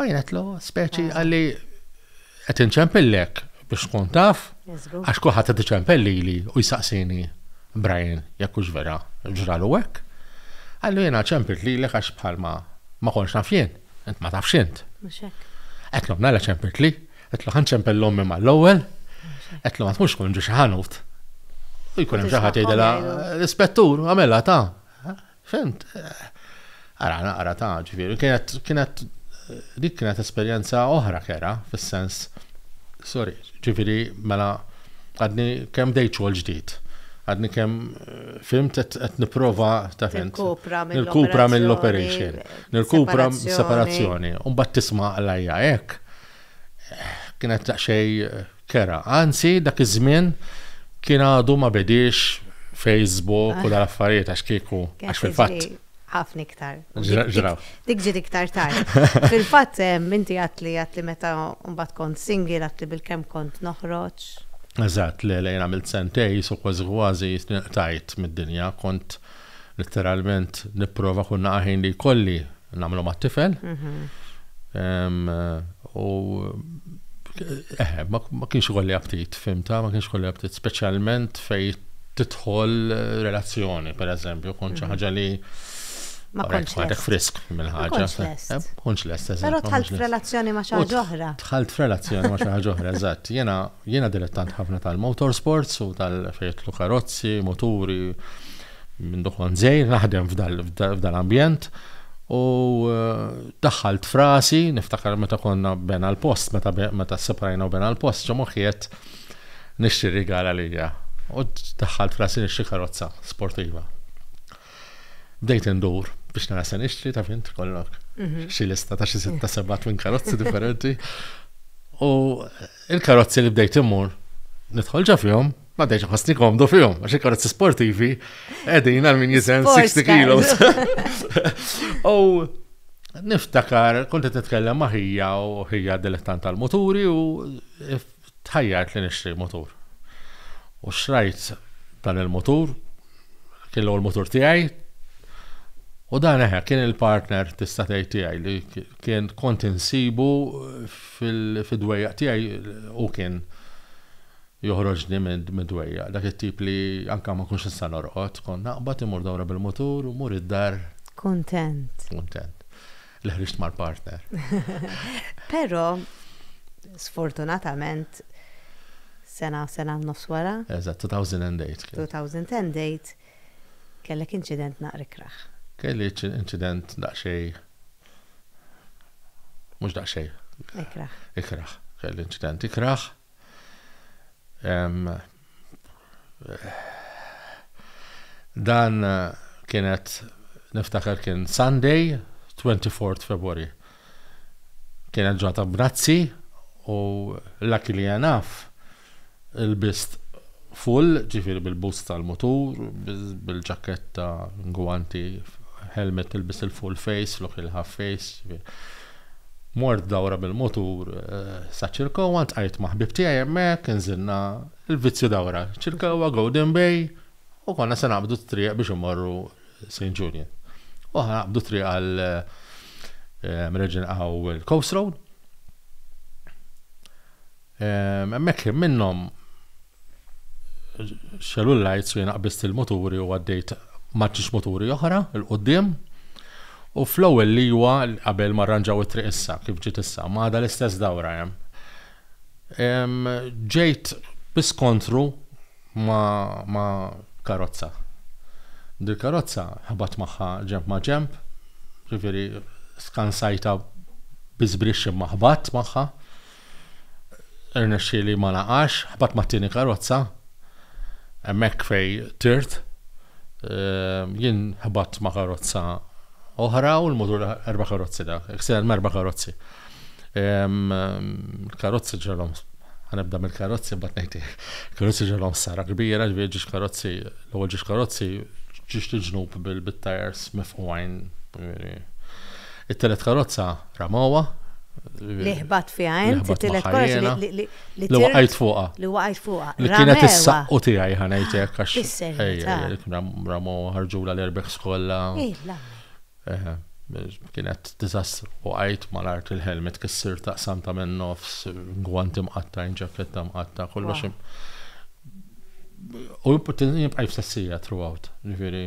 [SPEAKER 2] Għajnetlu, speċi ah. għalli qed inċempillek biex tkun taf, għax kulħadd qed iċempelli li u jsaqsini Brian jekk hux vera ġralu hekk. Għallu jiena ċempilt li l għax bħalma ma konx naf jien, int ma tafx int. Qed l nara ċempilt li, qed l ħanċempel l-ommi mal-ewwel, qed l ma tkunx kun ġi xi ħanut. U jkun hemm xi ħadd jgħidilha l-ispettur għamela ta' Fimt? Ara, naqra ta' ġifieri. Kienet, kienet, dik kienet esperjenza oħra kera, fis-sens, sorry, ġifieri mela għadni kemm dejt xogħol ġdid. Għadni kemm fimt qed nipprova ta' fimt. Nirkupra mill-operation. Nirkupra separazzjoni. Mbagħad tisma' l-ajja hekk. Kienet daqsxejn Kera. Anzi, dak iż-żmien kien għadu ma bediex Facebook u dal-affarijiet għax kieku għax fil-fatt. Ħafna iktar.
[SPEAKER 1] Ġraw. Dik
[SPEAKER 2] ġiet iktar
[SPEAKER 1] tard. Fil-fatt, minti għatli għatli meta mbagħad kont single għatli bil-kemm kont noħroġ. Eżatt, le,
[SPEAKER 2] le, għamilt sentej, so kważi kważi jitniqtajt mid-dinja, kont. Litteralment nipprova kull naqa' ħin li jkolli nagħmlu mat-tifel. U eħe, ma kienx ikolli aptit, fimta, ma kienx ikolli aptit, speċjalment fej tidħol relazzjoni, per eżempju, kont xi ħaġa li Ma kontx
[SPEAKER 1] lest. frisk minn
[SPEAKER 2] ħaġa.
[SPEAKER 1] Kontx lest, eżatt. Però tħalt
[SPEAKER 2] f'relazzjoni ma' xi
[SPEAKER 1] ħaġa
[SPEAKER 2] oħra.
[SPEAKER 1] Tħalt f'relazzjoni ma'
[SPEAKER 2] xi ħaġa oħra, eżatt. Jena Jiena dilettant ħafna tal-motorsports u tal-fejtlu karozzi, moturi, minn dokon zejr, naħdem f'dal-ambjent. U eh, daħħalt frasi, niftakar meta konna bena l-post, meta separajna u bena l-post, ġo moħiet nixtri rigala lija. U daħħalt frasi nixtri karozza sportiva. Bdejt indur biex nara se nixtri ta' fint kollok. Mhm. Xi lista ta' xi sitta seba' twin karozzi differenti. U il-karozzi li bdejt imur nidħol ġa fihom, ma dejx ħossni komdu fihom, għax il-karozzi sportivi qegħdin għal min jiżen 60 kilos. U niftakar, kont qed nitkellem ma' ħija u ħija dilettant tal-muturi u Tħajjart li nixtri mutur. U xtrajt dan il-mutur, kien l-ewwel mutur tiegħi, u dan eħe kien il-partner tista' tgħid tiegħi li kien kont insibu fid-dwejjaq tiegħi u kien joħroġni mid-dwejjaq. Dak it-tip li anke ma kunx nista' norqod, kont naqbad imur dawra bil-mutur u mur id-dar. Kuntent.
[SPEAKER 1] Kuntent.
[SPEAKER 2] Li ħriġt mal-partner.
[SPEAKER 1] Però, sfortunatament, sena, sena nofs wara. Eżatt, 2008. 2008, kellek inċident naqri kraħ. Kelli
[SPEAKER 2] inċident daqxej. Mhux daqxej. Ikraħ. Ikraħ. Kelli inċident ikraħ. Dan kienet niftakar kien Sunday 24 February. Kienet ġata b'nazzi u l-laki li jenaf il-bist full ġifiri bil-bus tal-mutur, bil-ġaketta, gwanti, helmet il-bist il-full face, flok il-half face, Mort dawra bil-mutur sa Ċirkewwa, ltqajt ma' ħbieb tiegħi hemmhekk, inżilna l-vizzju dawra Ċirkewwa, Golden Bay, u konna se naqbdu t-triq biex immorru Saint Julian. U aħna naqbdu t-triq għal Regina Coast Road. Hemmhekk kien minnhom xelu l-lights u jiena qbist il-muturi u għaddejt maċċiex muturi oħra il-qudiem. U fl-ewwel liwa qabel ma rranġaw it-triq issa kif ġiet issa, ma għadha l-istess dawra hemm. Ġejt biskontru ma' karozza. Dil-karozza ħabat magħha ġenb ma' ġenb, jiġifieri skansajtha bi żbrixx imma ħbatt magħha. Irnexxieli ma naqax, ħbatt mat-tieni karozza. Hemmhekk fej tirt. Ehm, jien ħbatt ma' karozza oħra u l-mutur erba' karozzi dak, ksel merba' karozzi. Ehm, karozzi ġelhom ħanibda mill-karozzi mbagħad ngħid karozzi ġelhom sara kbira, ġifieri ġiex karozzi, l-ewwel ġiex karozzi ġiex il-ġnub bil-tajers mifqugħin, ġifieri It-telet karozza ramawha. Li
[SPEAKER 1] ħbat fiha hemm it-telet karozza li li waqajt fuqha. Li
[SPEAKER 2] waqajt fuqha. Li
[SPEAKER 1] kienet is-saqqu
[SPEAKER 2] tiegħi ħanejtek għax. Ejja,
[SPEAKER 1] ramawha
[SPEAKER 2] ħarġula l-erbeħ skolla. Kienet diżastru. Waqajt mal-art il-helmet kissir taqsam ta' minn nofs, gwant imqatta, ġaketta mqatta, kollox. U jibqa' jfsessija throughout. Ġifieri.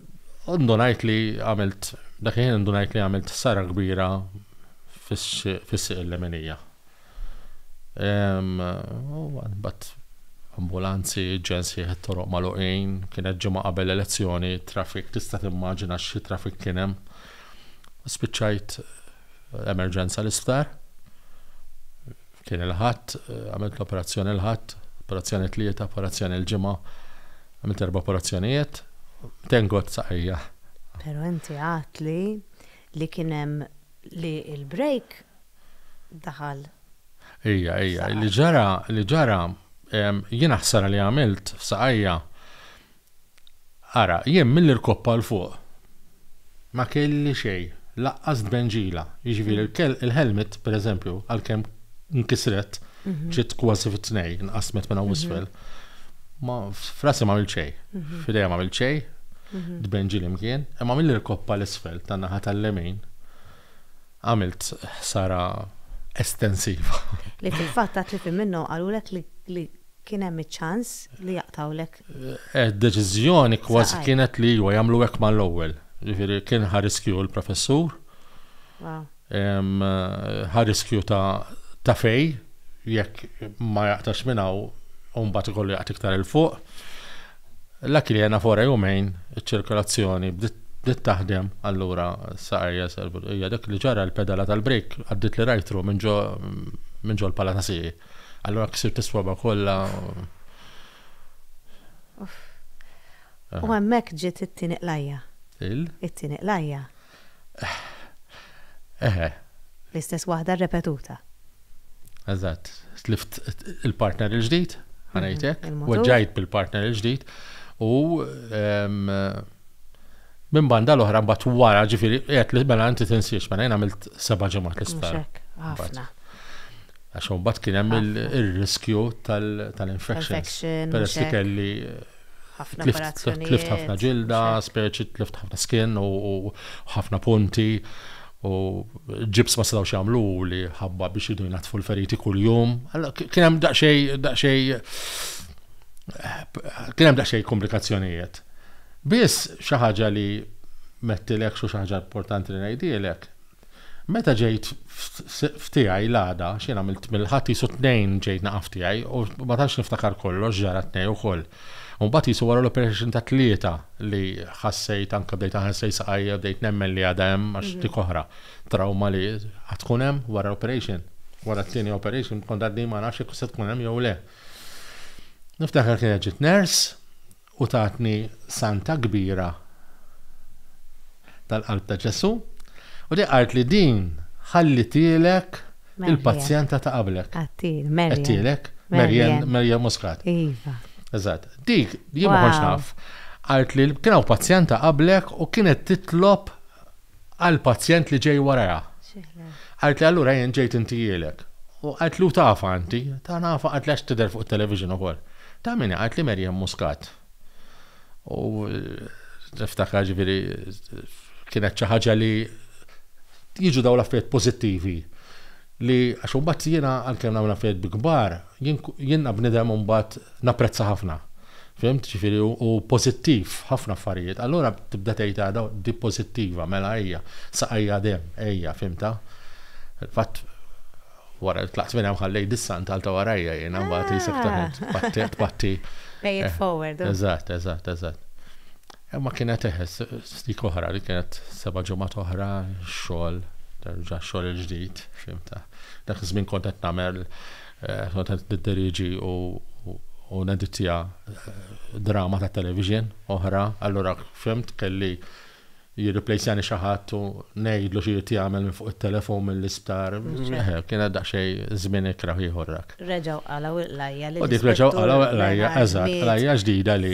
[SPEAKER 2] Indunajt li għamilt, dak il-ħin indunajt li għamilt ħsara kbira fis-sieq il-leminija. Bat ambulanzi, ġensi ħed toroq maluqin, kienet ġimgħa qabel l-elezzjoni, traffic, tista' timmaġina xi traffic kien hemm. Spiċċajt emerġenza l-isptar. Kien il-ħadd, għamilt l-operazzjoni l-ħadd, operazzjoni tlieta, operazzjoni l-ġimgħa, għamilt erba' operazzjonijiet, tengot saqajja. Però inti
[SPEAKER 1] għad li li kien hemm li l-break daħal.
[SPEAKER 2] Ija, ija, li ġara, li ġara, jiena ħsara li għamilt f'saqajja Ara, jien mill-irkoppa 'l fuq ma kelli xejn, lanqas tbenġila, jiġifieri l-helmet, pereżempju, għalkemm nkisret, ġiet kważi fi tnejn, inqasmet minn hawn 'l isfel, ma, f'rasi m'għamilt xejn, f'idejja m'għamilt xejn, tbenġili mkien, imma mill-irkoppa 'l isfel tan-naħa tal-lemin għamilt ħsara estensiva. Li
[SPEAKER 1] fil-fatt għad li f'Iminno qalulek li kien hemm iċ-ċans li jaqtgħulek Id-deċiżjoni
[SPEAKER 2] kważi kienet li iwa jagħmlu hekk mal-ewwel. Ġifieri kien ħa riskju l-professur. Ħa riskju ta' fej jekk ma jaqtax minn hawn u mbagħad ikollu jaqt iktar il fuq. La kliena fora jumejn iċ-ċirkolazzjoni bdiet taħdem allura saqajja hija dik li ġara l-pedala tal-brejk għaddiet li rajtru minn ġo l-pala ta' sieqi. Allura ksirt is-swaba' kollha.
[SPEAKER 1] U hemmhekk ġiet it-tieni qlajja. Il? It-tieni qlajja. Eħe. L-istess waħda rrepetuta.
[SPEAKER 2] Eżatt. Tlift il-partner il-ġdid, ħanajtek. Mhm, Weġġajt bil-partner il-ġdid. U minn banda l-oħra mbagħad wara ġifieri qed li mela inti tinsiex mela jien għamilt seba' ġimgħat l-isptar.
[SPEAKER 1] Għax
[SPEAKER 2] mbagħad kien hemm ir-riskju tal-infections. Peress li kelli tlift ħafna ġilda, speċi tlift ħafna skin u ħafna punti u ġibs ma setgħux jagħmlu li ħabba biex idu jnattfu l-feriti kuljum. Kien hemm daqsxej daqsxej kien hemm daqsxej komplikazzjonijiet. Biss xi ħaġa li mettilek xi ħaġa importanti li ngħidilek, Meta ġejt f'tiegħi l-għada, x'jien għamilt mill-Ħadd qisu t-Tnejn ġejt naqa' f'tiegħi u ma tantx niftakar kollox ġara t-Tnejn ukoll. U mbagħad qisu wara l-operation tat-Tlieta li ħassejt anke bdejt ħassejt saqajja u bdejt nemmen li għadha hemm għax dik oħra trawma li għad tkun hemm wara l-operation. Wara t-tieni operation kont għadni ma nafx jekk se tkun hemm jew le. Niftakar kienet ġiet nurse U tatni Santa kbira tal-Qalb ta' Ġesù, u di qaltli din ħallitielek il-pazjenta ta' qablek. Għedtielek, Marian. Għedtielek, Marian, Marian Muscat. Iva. Eżatt. Dik, jien ma kontx naf, qaltli kien hawn pazjenta qablek u kienet titlob għall-pazjent li ġej warajha. Qalet li allura jien ġejt intijielek. U qalet li tafha inti, ta' nafha qalet li għax tidher fuq it-television ukoll. Ta' min hi? Qalet li Maryanne Muscat. U niftakar ġifieri kienet xi ħaġa li jiġu dawn l-affarijiet pożittivi li għax imbagħad jiena għalkemm nagħmel affarijiet bi kbar, Jien jien bnidem imbagħad napprezza ħafna. Fhimt? Ġifieri u pożittiv f'ħafna affarijiet. Allura tibda tgħid għada di pożittiva, mela ejja, saqajja demm, ejja, fhimtha? Fatt wara li tlaqt minn hemm ħallejt dis-sant għalta warajja jien imbagħad isek tpatti. Pay it forward.
[SPEAKER 1] Eżatt, eżatt, eżatt.
[SPEAKER 2] Imma kienet eh, dik oħra li kienet seba' ġimgħat oħra xogħol, terġa' xogħol il-ġdid, fimta. Dak iż-żmien kont qed nagħmel eh, kont qed niddiriġi u u nedittija eh, drama ta' television oħra, allura fimt kelli jirriplejsjani xi ħadd u ngħidlu xi jrid jagħmel minn fuq it-telefon mill-isptar. Eh, kienet daqsxejn żmien ikra ieħor dak. Reġgħu qalaw il-lajja
[SPEAKER 1] li. U dik reġgħu qalaw il-lajja,
[SPEAKER 2] eżatt, lajja ġdida li.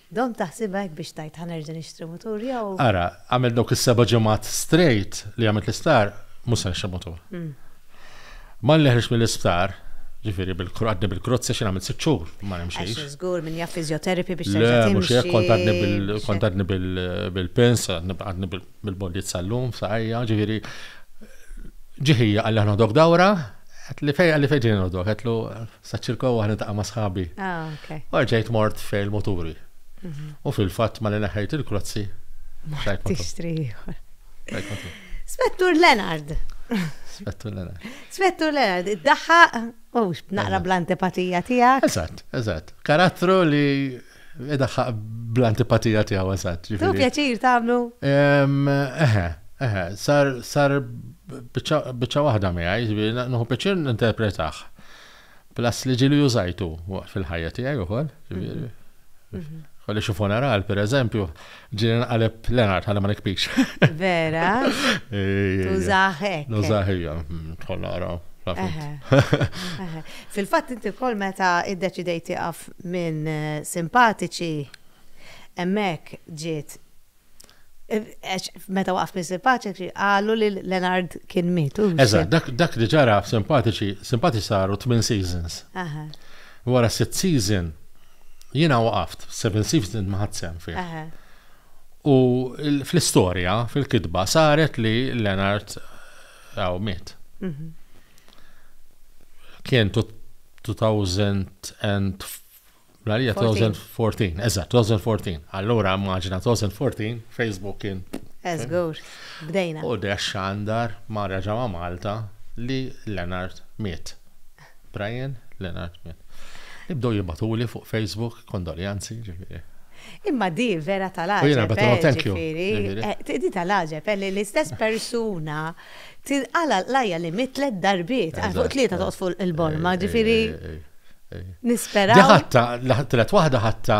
[SPEAKER 1] Domt taħsibha hekk biex tgħid ħa nerġa' nixtri mutur jew. Ara, għamilt dawk
[SPEAKER 2] is-seba' ġimgħat strejt li għamilt l-isptar, mhux se nixtri mutur. Malli ħriġt mill-isptar, ġifieri għadni bil-krozz għax jien għamilt sitt xhur ma nimxix. Għax żgur min jaf
[SPEAKER 1] physiotherapy biex terġa' timxi. Le, mhux hekk, kont
[SPEAKER 2] għadni
[SPEAKER 1] bil, kont għadni
[SPEAKER 2] bil-pins, għadni bil-bondiet sal-lum, f'saqajja, ġifieri ġie ħija qalli ħa noħdok dawra, għedtli fejn, qalli fejn ġejni noħdok, għedtlu Saċ-ċirko u niltaqa' ma' sħabi. Ah, ok. U rġajt
[SPEAKER 1] mort
[SPEAKER 2] fejn il-muturi. U fil-fatt malli neħħejt il-klozzi. Mort tixtri
[SPEAKER 1] ieħor. Spettur Leonard. Spettur Leonard. Spettur Leonard, id-daħħaq u naqra bl-antipatija tiegħek. Eżatt, eżatt.
[SPEAKER 2] Karattru li Idaħħaq bl-antipatija tiegħu eżatt. Tu pjaċir tagħmlu?
[SPEAKER 1] Eħe, eħe,
[SPEAKER 2] sar sar biċċa waħda miegħi, ġifieri nħu pjaċir ninterpretaħ. Plus li ġieli użajtu fil-ħajja tiegħi ukoll, ġifieri. Mhm. Kolli xi funeral, pereżempju, Ġiri nqaleb Leonard, għalli ma nikpix. Vera?
[SPEAKER 1] Tużaħek. Nużaħija,
[SPEAKER 2] tħolla għara.
[SPEAKER 1] Fil-fat inti kol meta id-deċidejt tiqaf minn eh, simpatiċi, emmek ġiet eh, meta waqaf minn simpatiċi, għallu li Leonard kien mitu. Eżat, dak li
[SPEAKER 2] ġara simpatiċi, simpatiċi saru 8 seasons. Wara 6 season, Jiena waqaft, Seven Seas ma ħadd sehem fih. U fl-istorja, fil-kitba, saret li Leonard għaw miet. Mhm. Kien 2014, eżatt, 2014. Allura maġna 2014, Facebook kien. Eżgur,
[SPEAKER 1] bdejna. U dex xandar
[SPEAKER 2] ma reġa ma Malta li Leonard miet. Brian Leonard Minn. Ibdew jibgħatuli fuq Facebook kondoljanzi, ġifieri. Imma di
[SPEAKER 1] vera tal-għaġeb, ġifieri. Eh, di tal-għaġeb, eh, li l-istess persuna tinqala l-lajja li mit tlet darbiet, għal fuq tlieta toqgħod fuq il-borma, ġifieri. Nisperaw. Di ħatta,
[SPEAKER 2] tlet waħda ħatta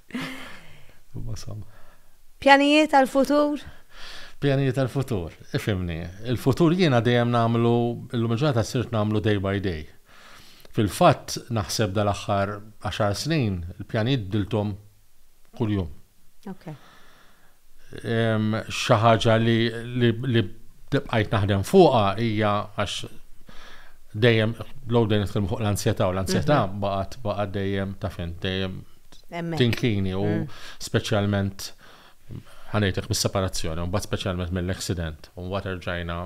[SPEAKER 1] Pjanijiet għal-futur? Pjanijiet
[SPEAKER 2] għal-futur, ifimni. Il-futur jiena dejjem nagħmlu, illum il-ġurnata sirt nagħmlu day by day. Fil-fatt, naħseb dal-aħħar għaxar snin, il-pjanijiet bdilthom kuljum. xi ħaġa li li bqajt naħdem fuqha hija għax dejjem low dejjem nitkellmu fuq l-ansjetà u l-ansjetà mhm. baqgħet baqgħet dejjem ta' fin dejjem tinkini u mm. speċjalment ħanejtek mis-separazzjoni, mbagħad speċjalment mill-accident, u mbagħad erġajna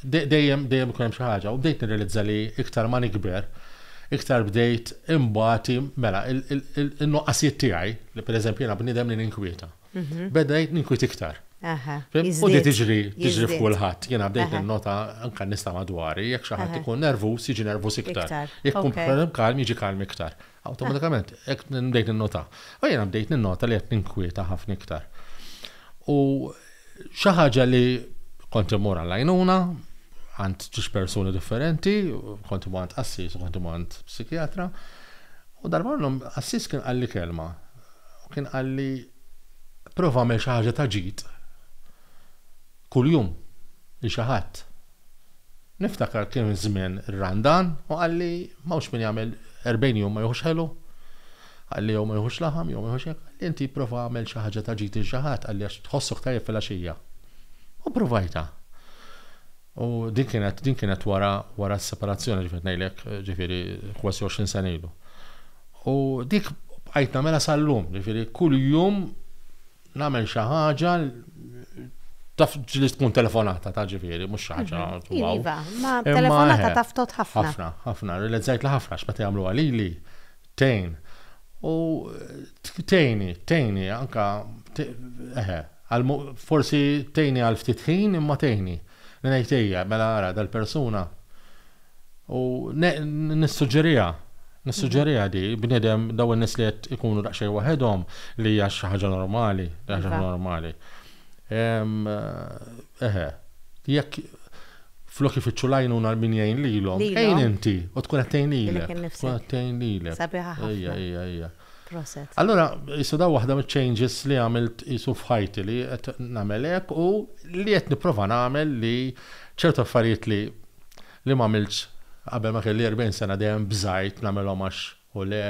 [SPEAKER 2] dejjem dejjem ikun hemm xi ħaġa u bdejt nirrealizza li iktar ma nikber iktar bdejt imbati mela il-nuqqasijiet tiegħi li pereżempju jiena bniedem li ninkwieta. Mhm. Beda jgħid ninkwit iktar. U di tiġri, tiġri f'kulħadd. Jena bdejt il-nota anka nista madwari, jekk xi ħadd ikun nervus, jiġi nervus iktar. Jekk kun kalm, jiġi kalm iktar. Awtomatikament, jekk bdejt il-nota. U jena bdejt il-nota li qed ninkwieta ħafna iktar. U xi ħaġa li kont imur għall-għajnuna, għand ġiex persuni differenti, kont imur għand assis, kont imur għand psikjatra. U darba għassis kien għalli kelma U kien qalli, Prova agħmel xi ħaġa ta' ġid kuljum lil xi ħadd. Niftakar kien żmien ir-Randan u qalli, M'hawnx min jagħmel erbgħin jum ma jieħux ħelu. Qalli, Jew ma jieħux laħam, jew ma jieħux hekk. Qalli, Inti prova agħmel xi ħaġa ta' ġid lil xi ħadd, qalli, għax tħossok tajjeb filgħaxija. U ppruvajtha. U din kienet, din kienet wara, wara s-separazzjoni li qed ngħidlek, ġifieri kważi 20 sena ilu. U dik bqajt nagħmilha sal-lum, ġifieri kuljum nagħmel xi ħaġa taf ġili tkun telefonata ta' ġifieri, mhux xi ħaġa. Mhm. Iva,
[SPEAKER 1] ma telefonata taf tot ħafna. Ħafna, ħafna, realizzajt li
[SPEAKER 2] ħafna x'meta jagħmlu għalili Tgħin. U tgħini, tgħini, anka, eħe, forsi tgħini għal ftit ħin imma tgħini. Ngħid ejja, mela ara dal-persuna. U nissuġġeriha, nissuġġeriha di, bniedem daw in-nies li qed ikunu daqsxejn waħedhom li hija xi ħaġa normali, xi ħaġa normali. Eħe. Jekk flok ifittxu l-għajnuna min jgħin lilhom, Lilhom. għin inti u tkun qed tgħin Dilek lilek. Tkun innifsek. qed tgħin lilek. Sabiħa ħafna. Ejja,
[SPEAKER 1] ejja, ejja. Proset.
[SPEAKER 2] Allura,
[SPEAKER 1] qisu
[SPEAKER 2] dawn waħda miċ-changes li għamilt qisu f'ħajti li qed nagħmel hekk u li qed nipprova nagħmel li ċertu affarijiet li li m'għamiltx qabel ma kelli 40 sena dejjem bżajt nagħmilhom għax u le,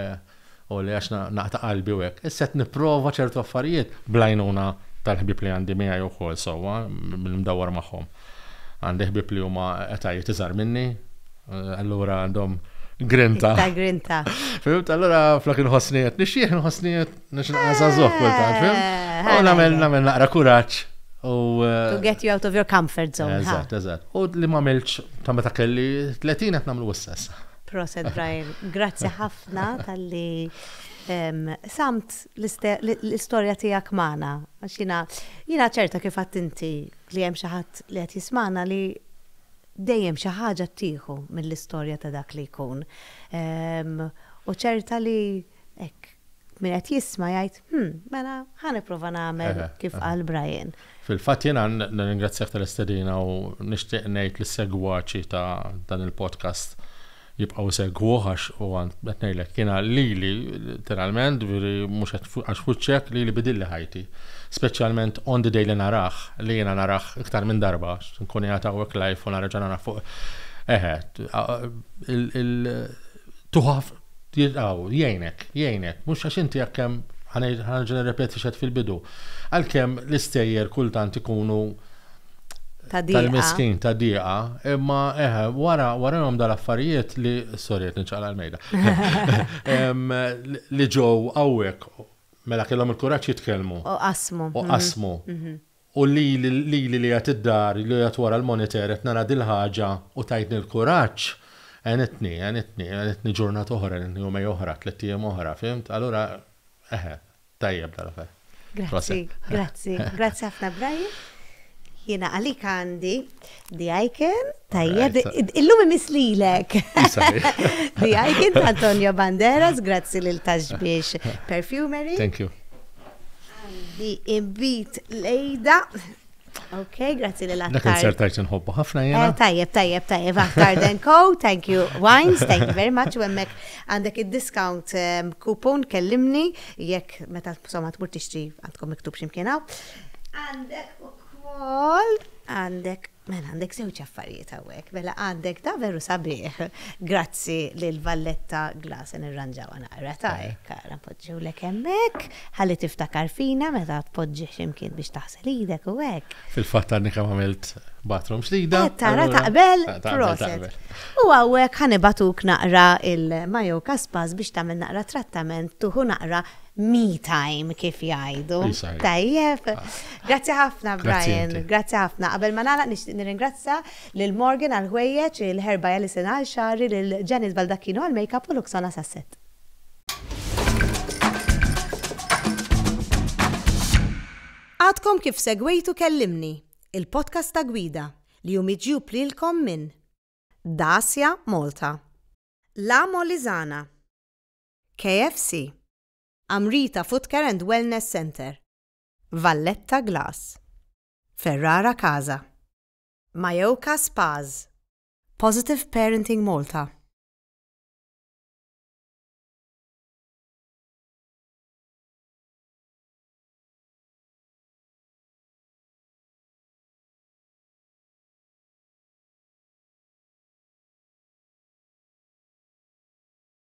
[SPEAKER 2] u le għax naqta' qalbi u hekk. Issa qed nipprova ċertu affarijiet bl-għajnuna tal-ħbieb li għandi miegħi wkoll sewwa, billi ndawwar magħhom. Għandi ħbieb li huma etajiet iżgħar minni, allura għandhom grinta. Ta' grinta.
[SPEAKER 1] Fimt, allura
[SPEAKER 2] flok inħossni qed nixjieħ, inħossni qed Nux nqasa zoħ kultant, fim? Eh, u namel, namel naqra kuraċ. U. Eh, to
[SPEAKER 1] get you out of your comfort zone. Eżat, eżat. U li ma
[SPEAKER 2] melċ ta' meta kelli 30 għet namlu s-sess. Proset, Brian.
[SPEAKER 1] Grazzi ħafna tal-li samt l-istoria tijak maħna. Għaxina, jina ċerta kif għattinti li jem xaħat li għat jismana li dejjem xi ħaġa tieħu mill-istorja ta' dak li jkun. U ċerta li hekk min qed jisma' jgħid, hm, mela ħa nipprova nagħmel kif qal Brian. Fil-fatt jiena
[SPEAKER 2] nirringrazzjak tal-istedina u nixtieq ngħid lis-segwaċi ta' dan il-podcast jibqgħu jsegwuh għax huwa qed ngħidlek jiena lili literalment, ġifieri mhux qed għax f'wiċċek lili bidilli ħajti. Speċjalment on the day li narah, li jiena narah iktar minn darba, nkun qiegħed hawnhekk live u narġa' narah fuq. Eħe, tuħaf jilqgħu, jgħinek, jgħinek, mhux għax inti jekk hemm, ħa ngħid, ħa nerġa' nirrepeti x'għedt fil-bidu, għalkemm l-istejjer kultant ikunu Ta' dieqa. tal-miskin, ta' dieqa, imma eħe, wara, warahom dal-affarijiet li, sorry qed niċċaqla' l-mejda, Em, li- li ġew hawnhekk, mela kellhom il-kuraġġ jitkellmu U qasmu. u qasmu. U lili, lili li qiegħed id-dar, li qiegħed wara l-monitor qed nara dil-ħaġa u tajtni l-kuraġġ, għenitni, għenitni, għenitni ġurnata oħra, għenitni jumej oħra, tlett ijiem oħra, fhimt? Allura, eħe, tajjeb dal-affer. Grazzi,
[SPEAKER 1] grazzi, grazzi ħafna Brian. Jiena għalik għandi. The Icon, tajjeb, illum imis lilek. The Icon ta' Antonio Banderas, grazzi lil Taxbiex Perfumery. Thank you. Di imbit lejda. Ok, grazzi lil Aktar. Dak il-sertajt nħobbu
[SPEAKER 2] ħafna jena. Eh, tajjeb, tajjeb, tajjeb,
[SPEAKER 1] Aktar Den Co, thank you, Wines, thank you very much, u emmek għandek il-discount ehm, coupon kellimni, jekk meta somma tmur tixtri għandkom miktub ximkienaw. Għandek u kol. Għandek, mela għandek żewġ affarijiet hawnhekk. Mela għandek da veru sabiħ, grazzi lil Valletta Glass, se nirranġawha naqra, ta hekk ara npoġġiwlek hemmhekk, ħalli tiftakar fina meta tpoġġih xi mkien biex taħsel idek u hekk. Fil-fatt għadni kemm għamilt
[SPEAKER 2] bathroom ġdida. Qed tara taqbel?
[SPEAKER 1] Proset. U hawnhekk ħa nibagħtuk naqra il-Mayoka Spas biex tagħmel naqra trattament, tuħu naqra me time kif jgħidu. Tajjeb. Grazzi ħafna Brian, grazzi ħafna. Qabel ma nagħlaq nixtieq nirringrazzja lil Morgan għal ħwejjeġ, lil Herba Ellison għal xagħri, lil Janice Baldacchino għal makeup u Luxona sas-set. Għadkom kif segwejtu Kellimni, il-podcast ta' Gwida li hu miġjub lilkom minn Dacia Malta, La Molisana, KFC, Amrita Footcare and Wellness Centre, Valletta Glass, Ferrara Casa, Mayoka Spas, Positive Parenting Malta,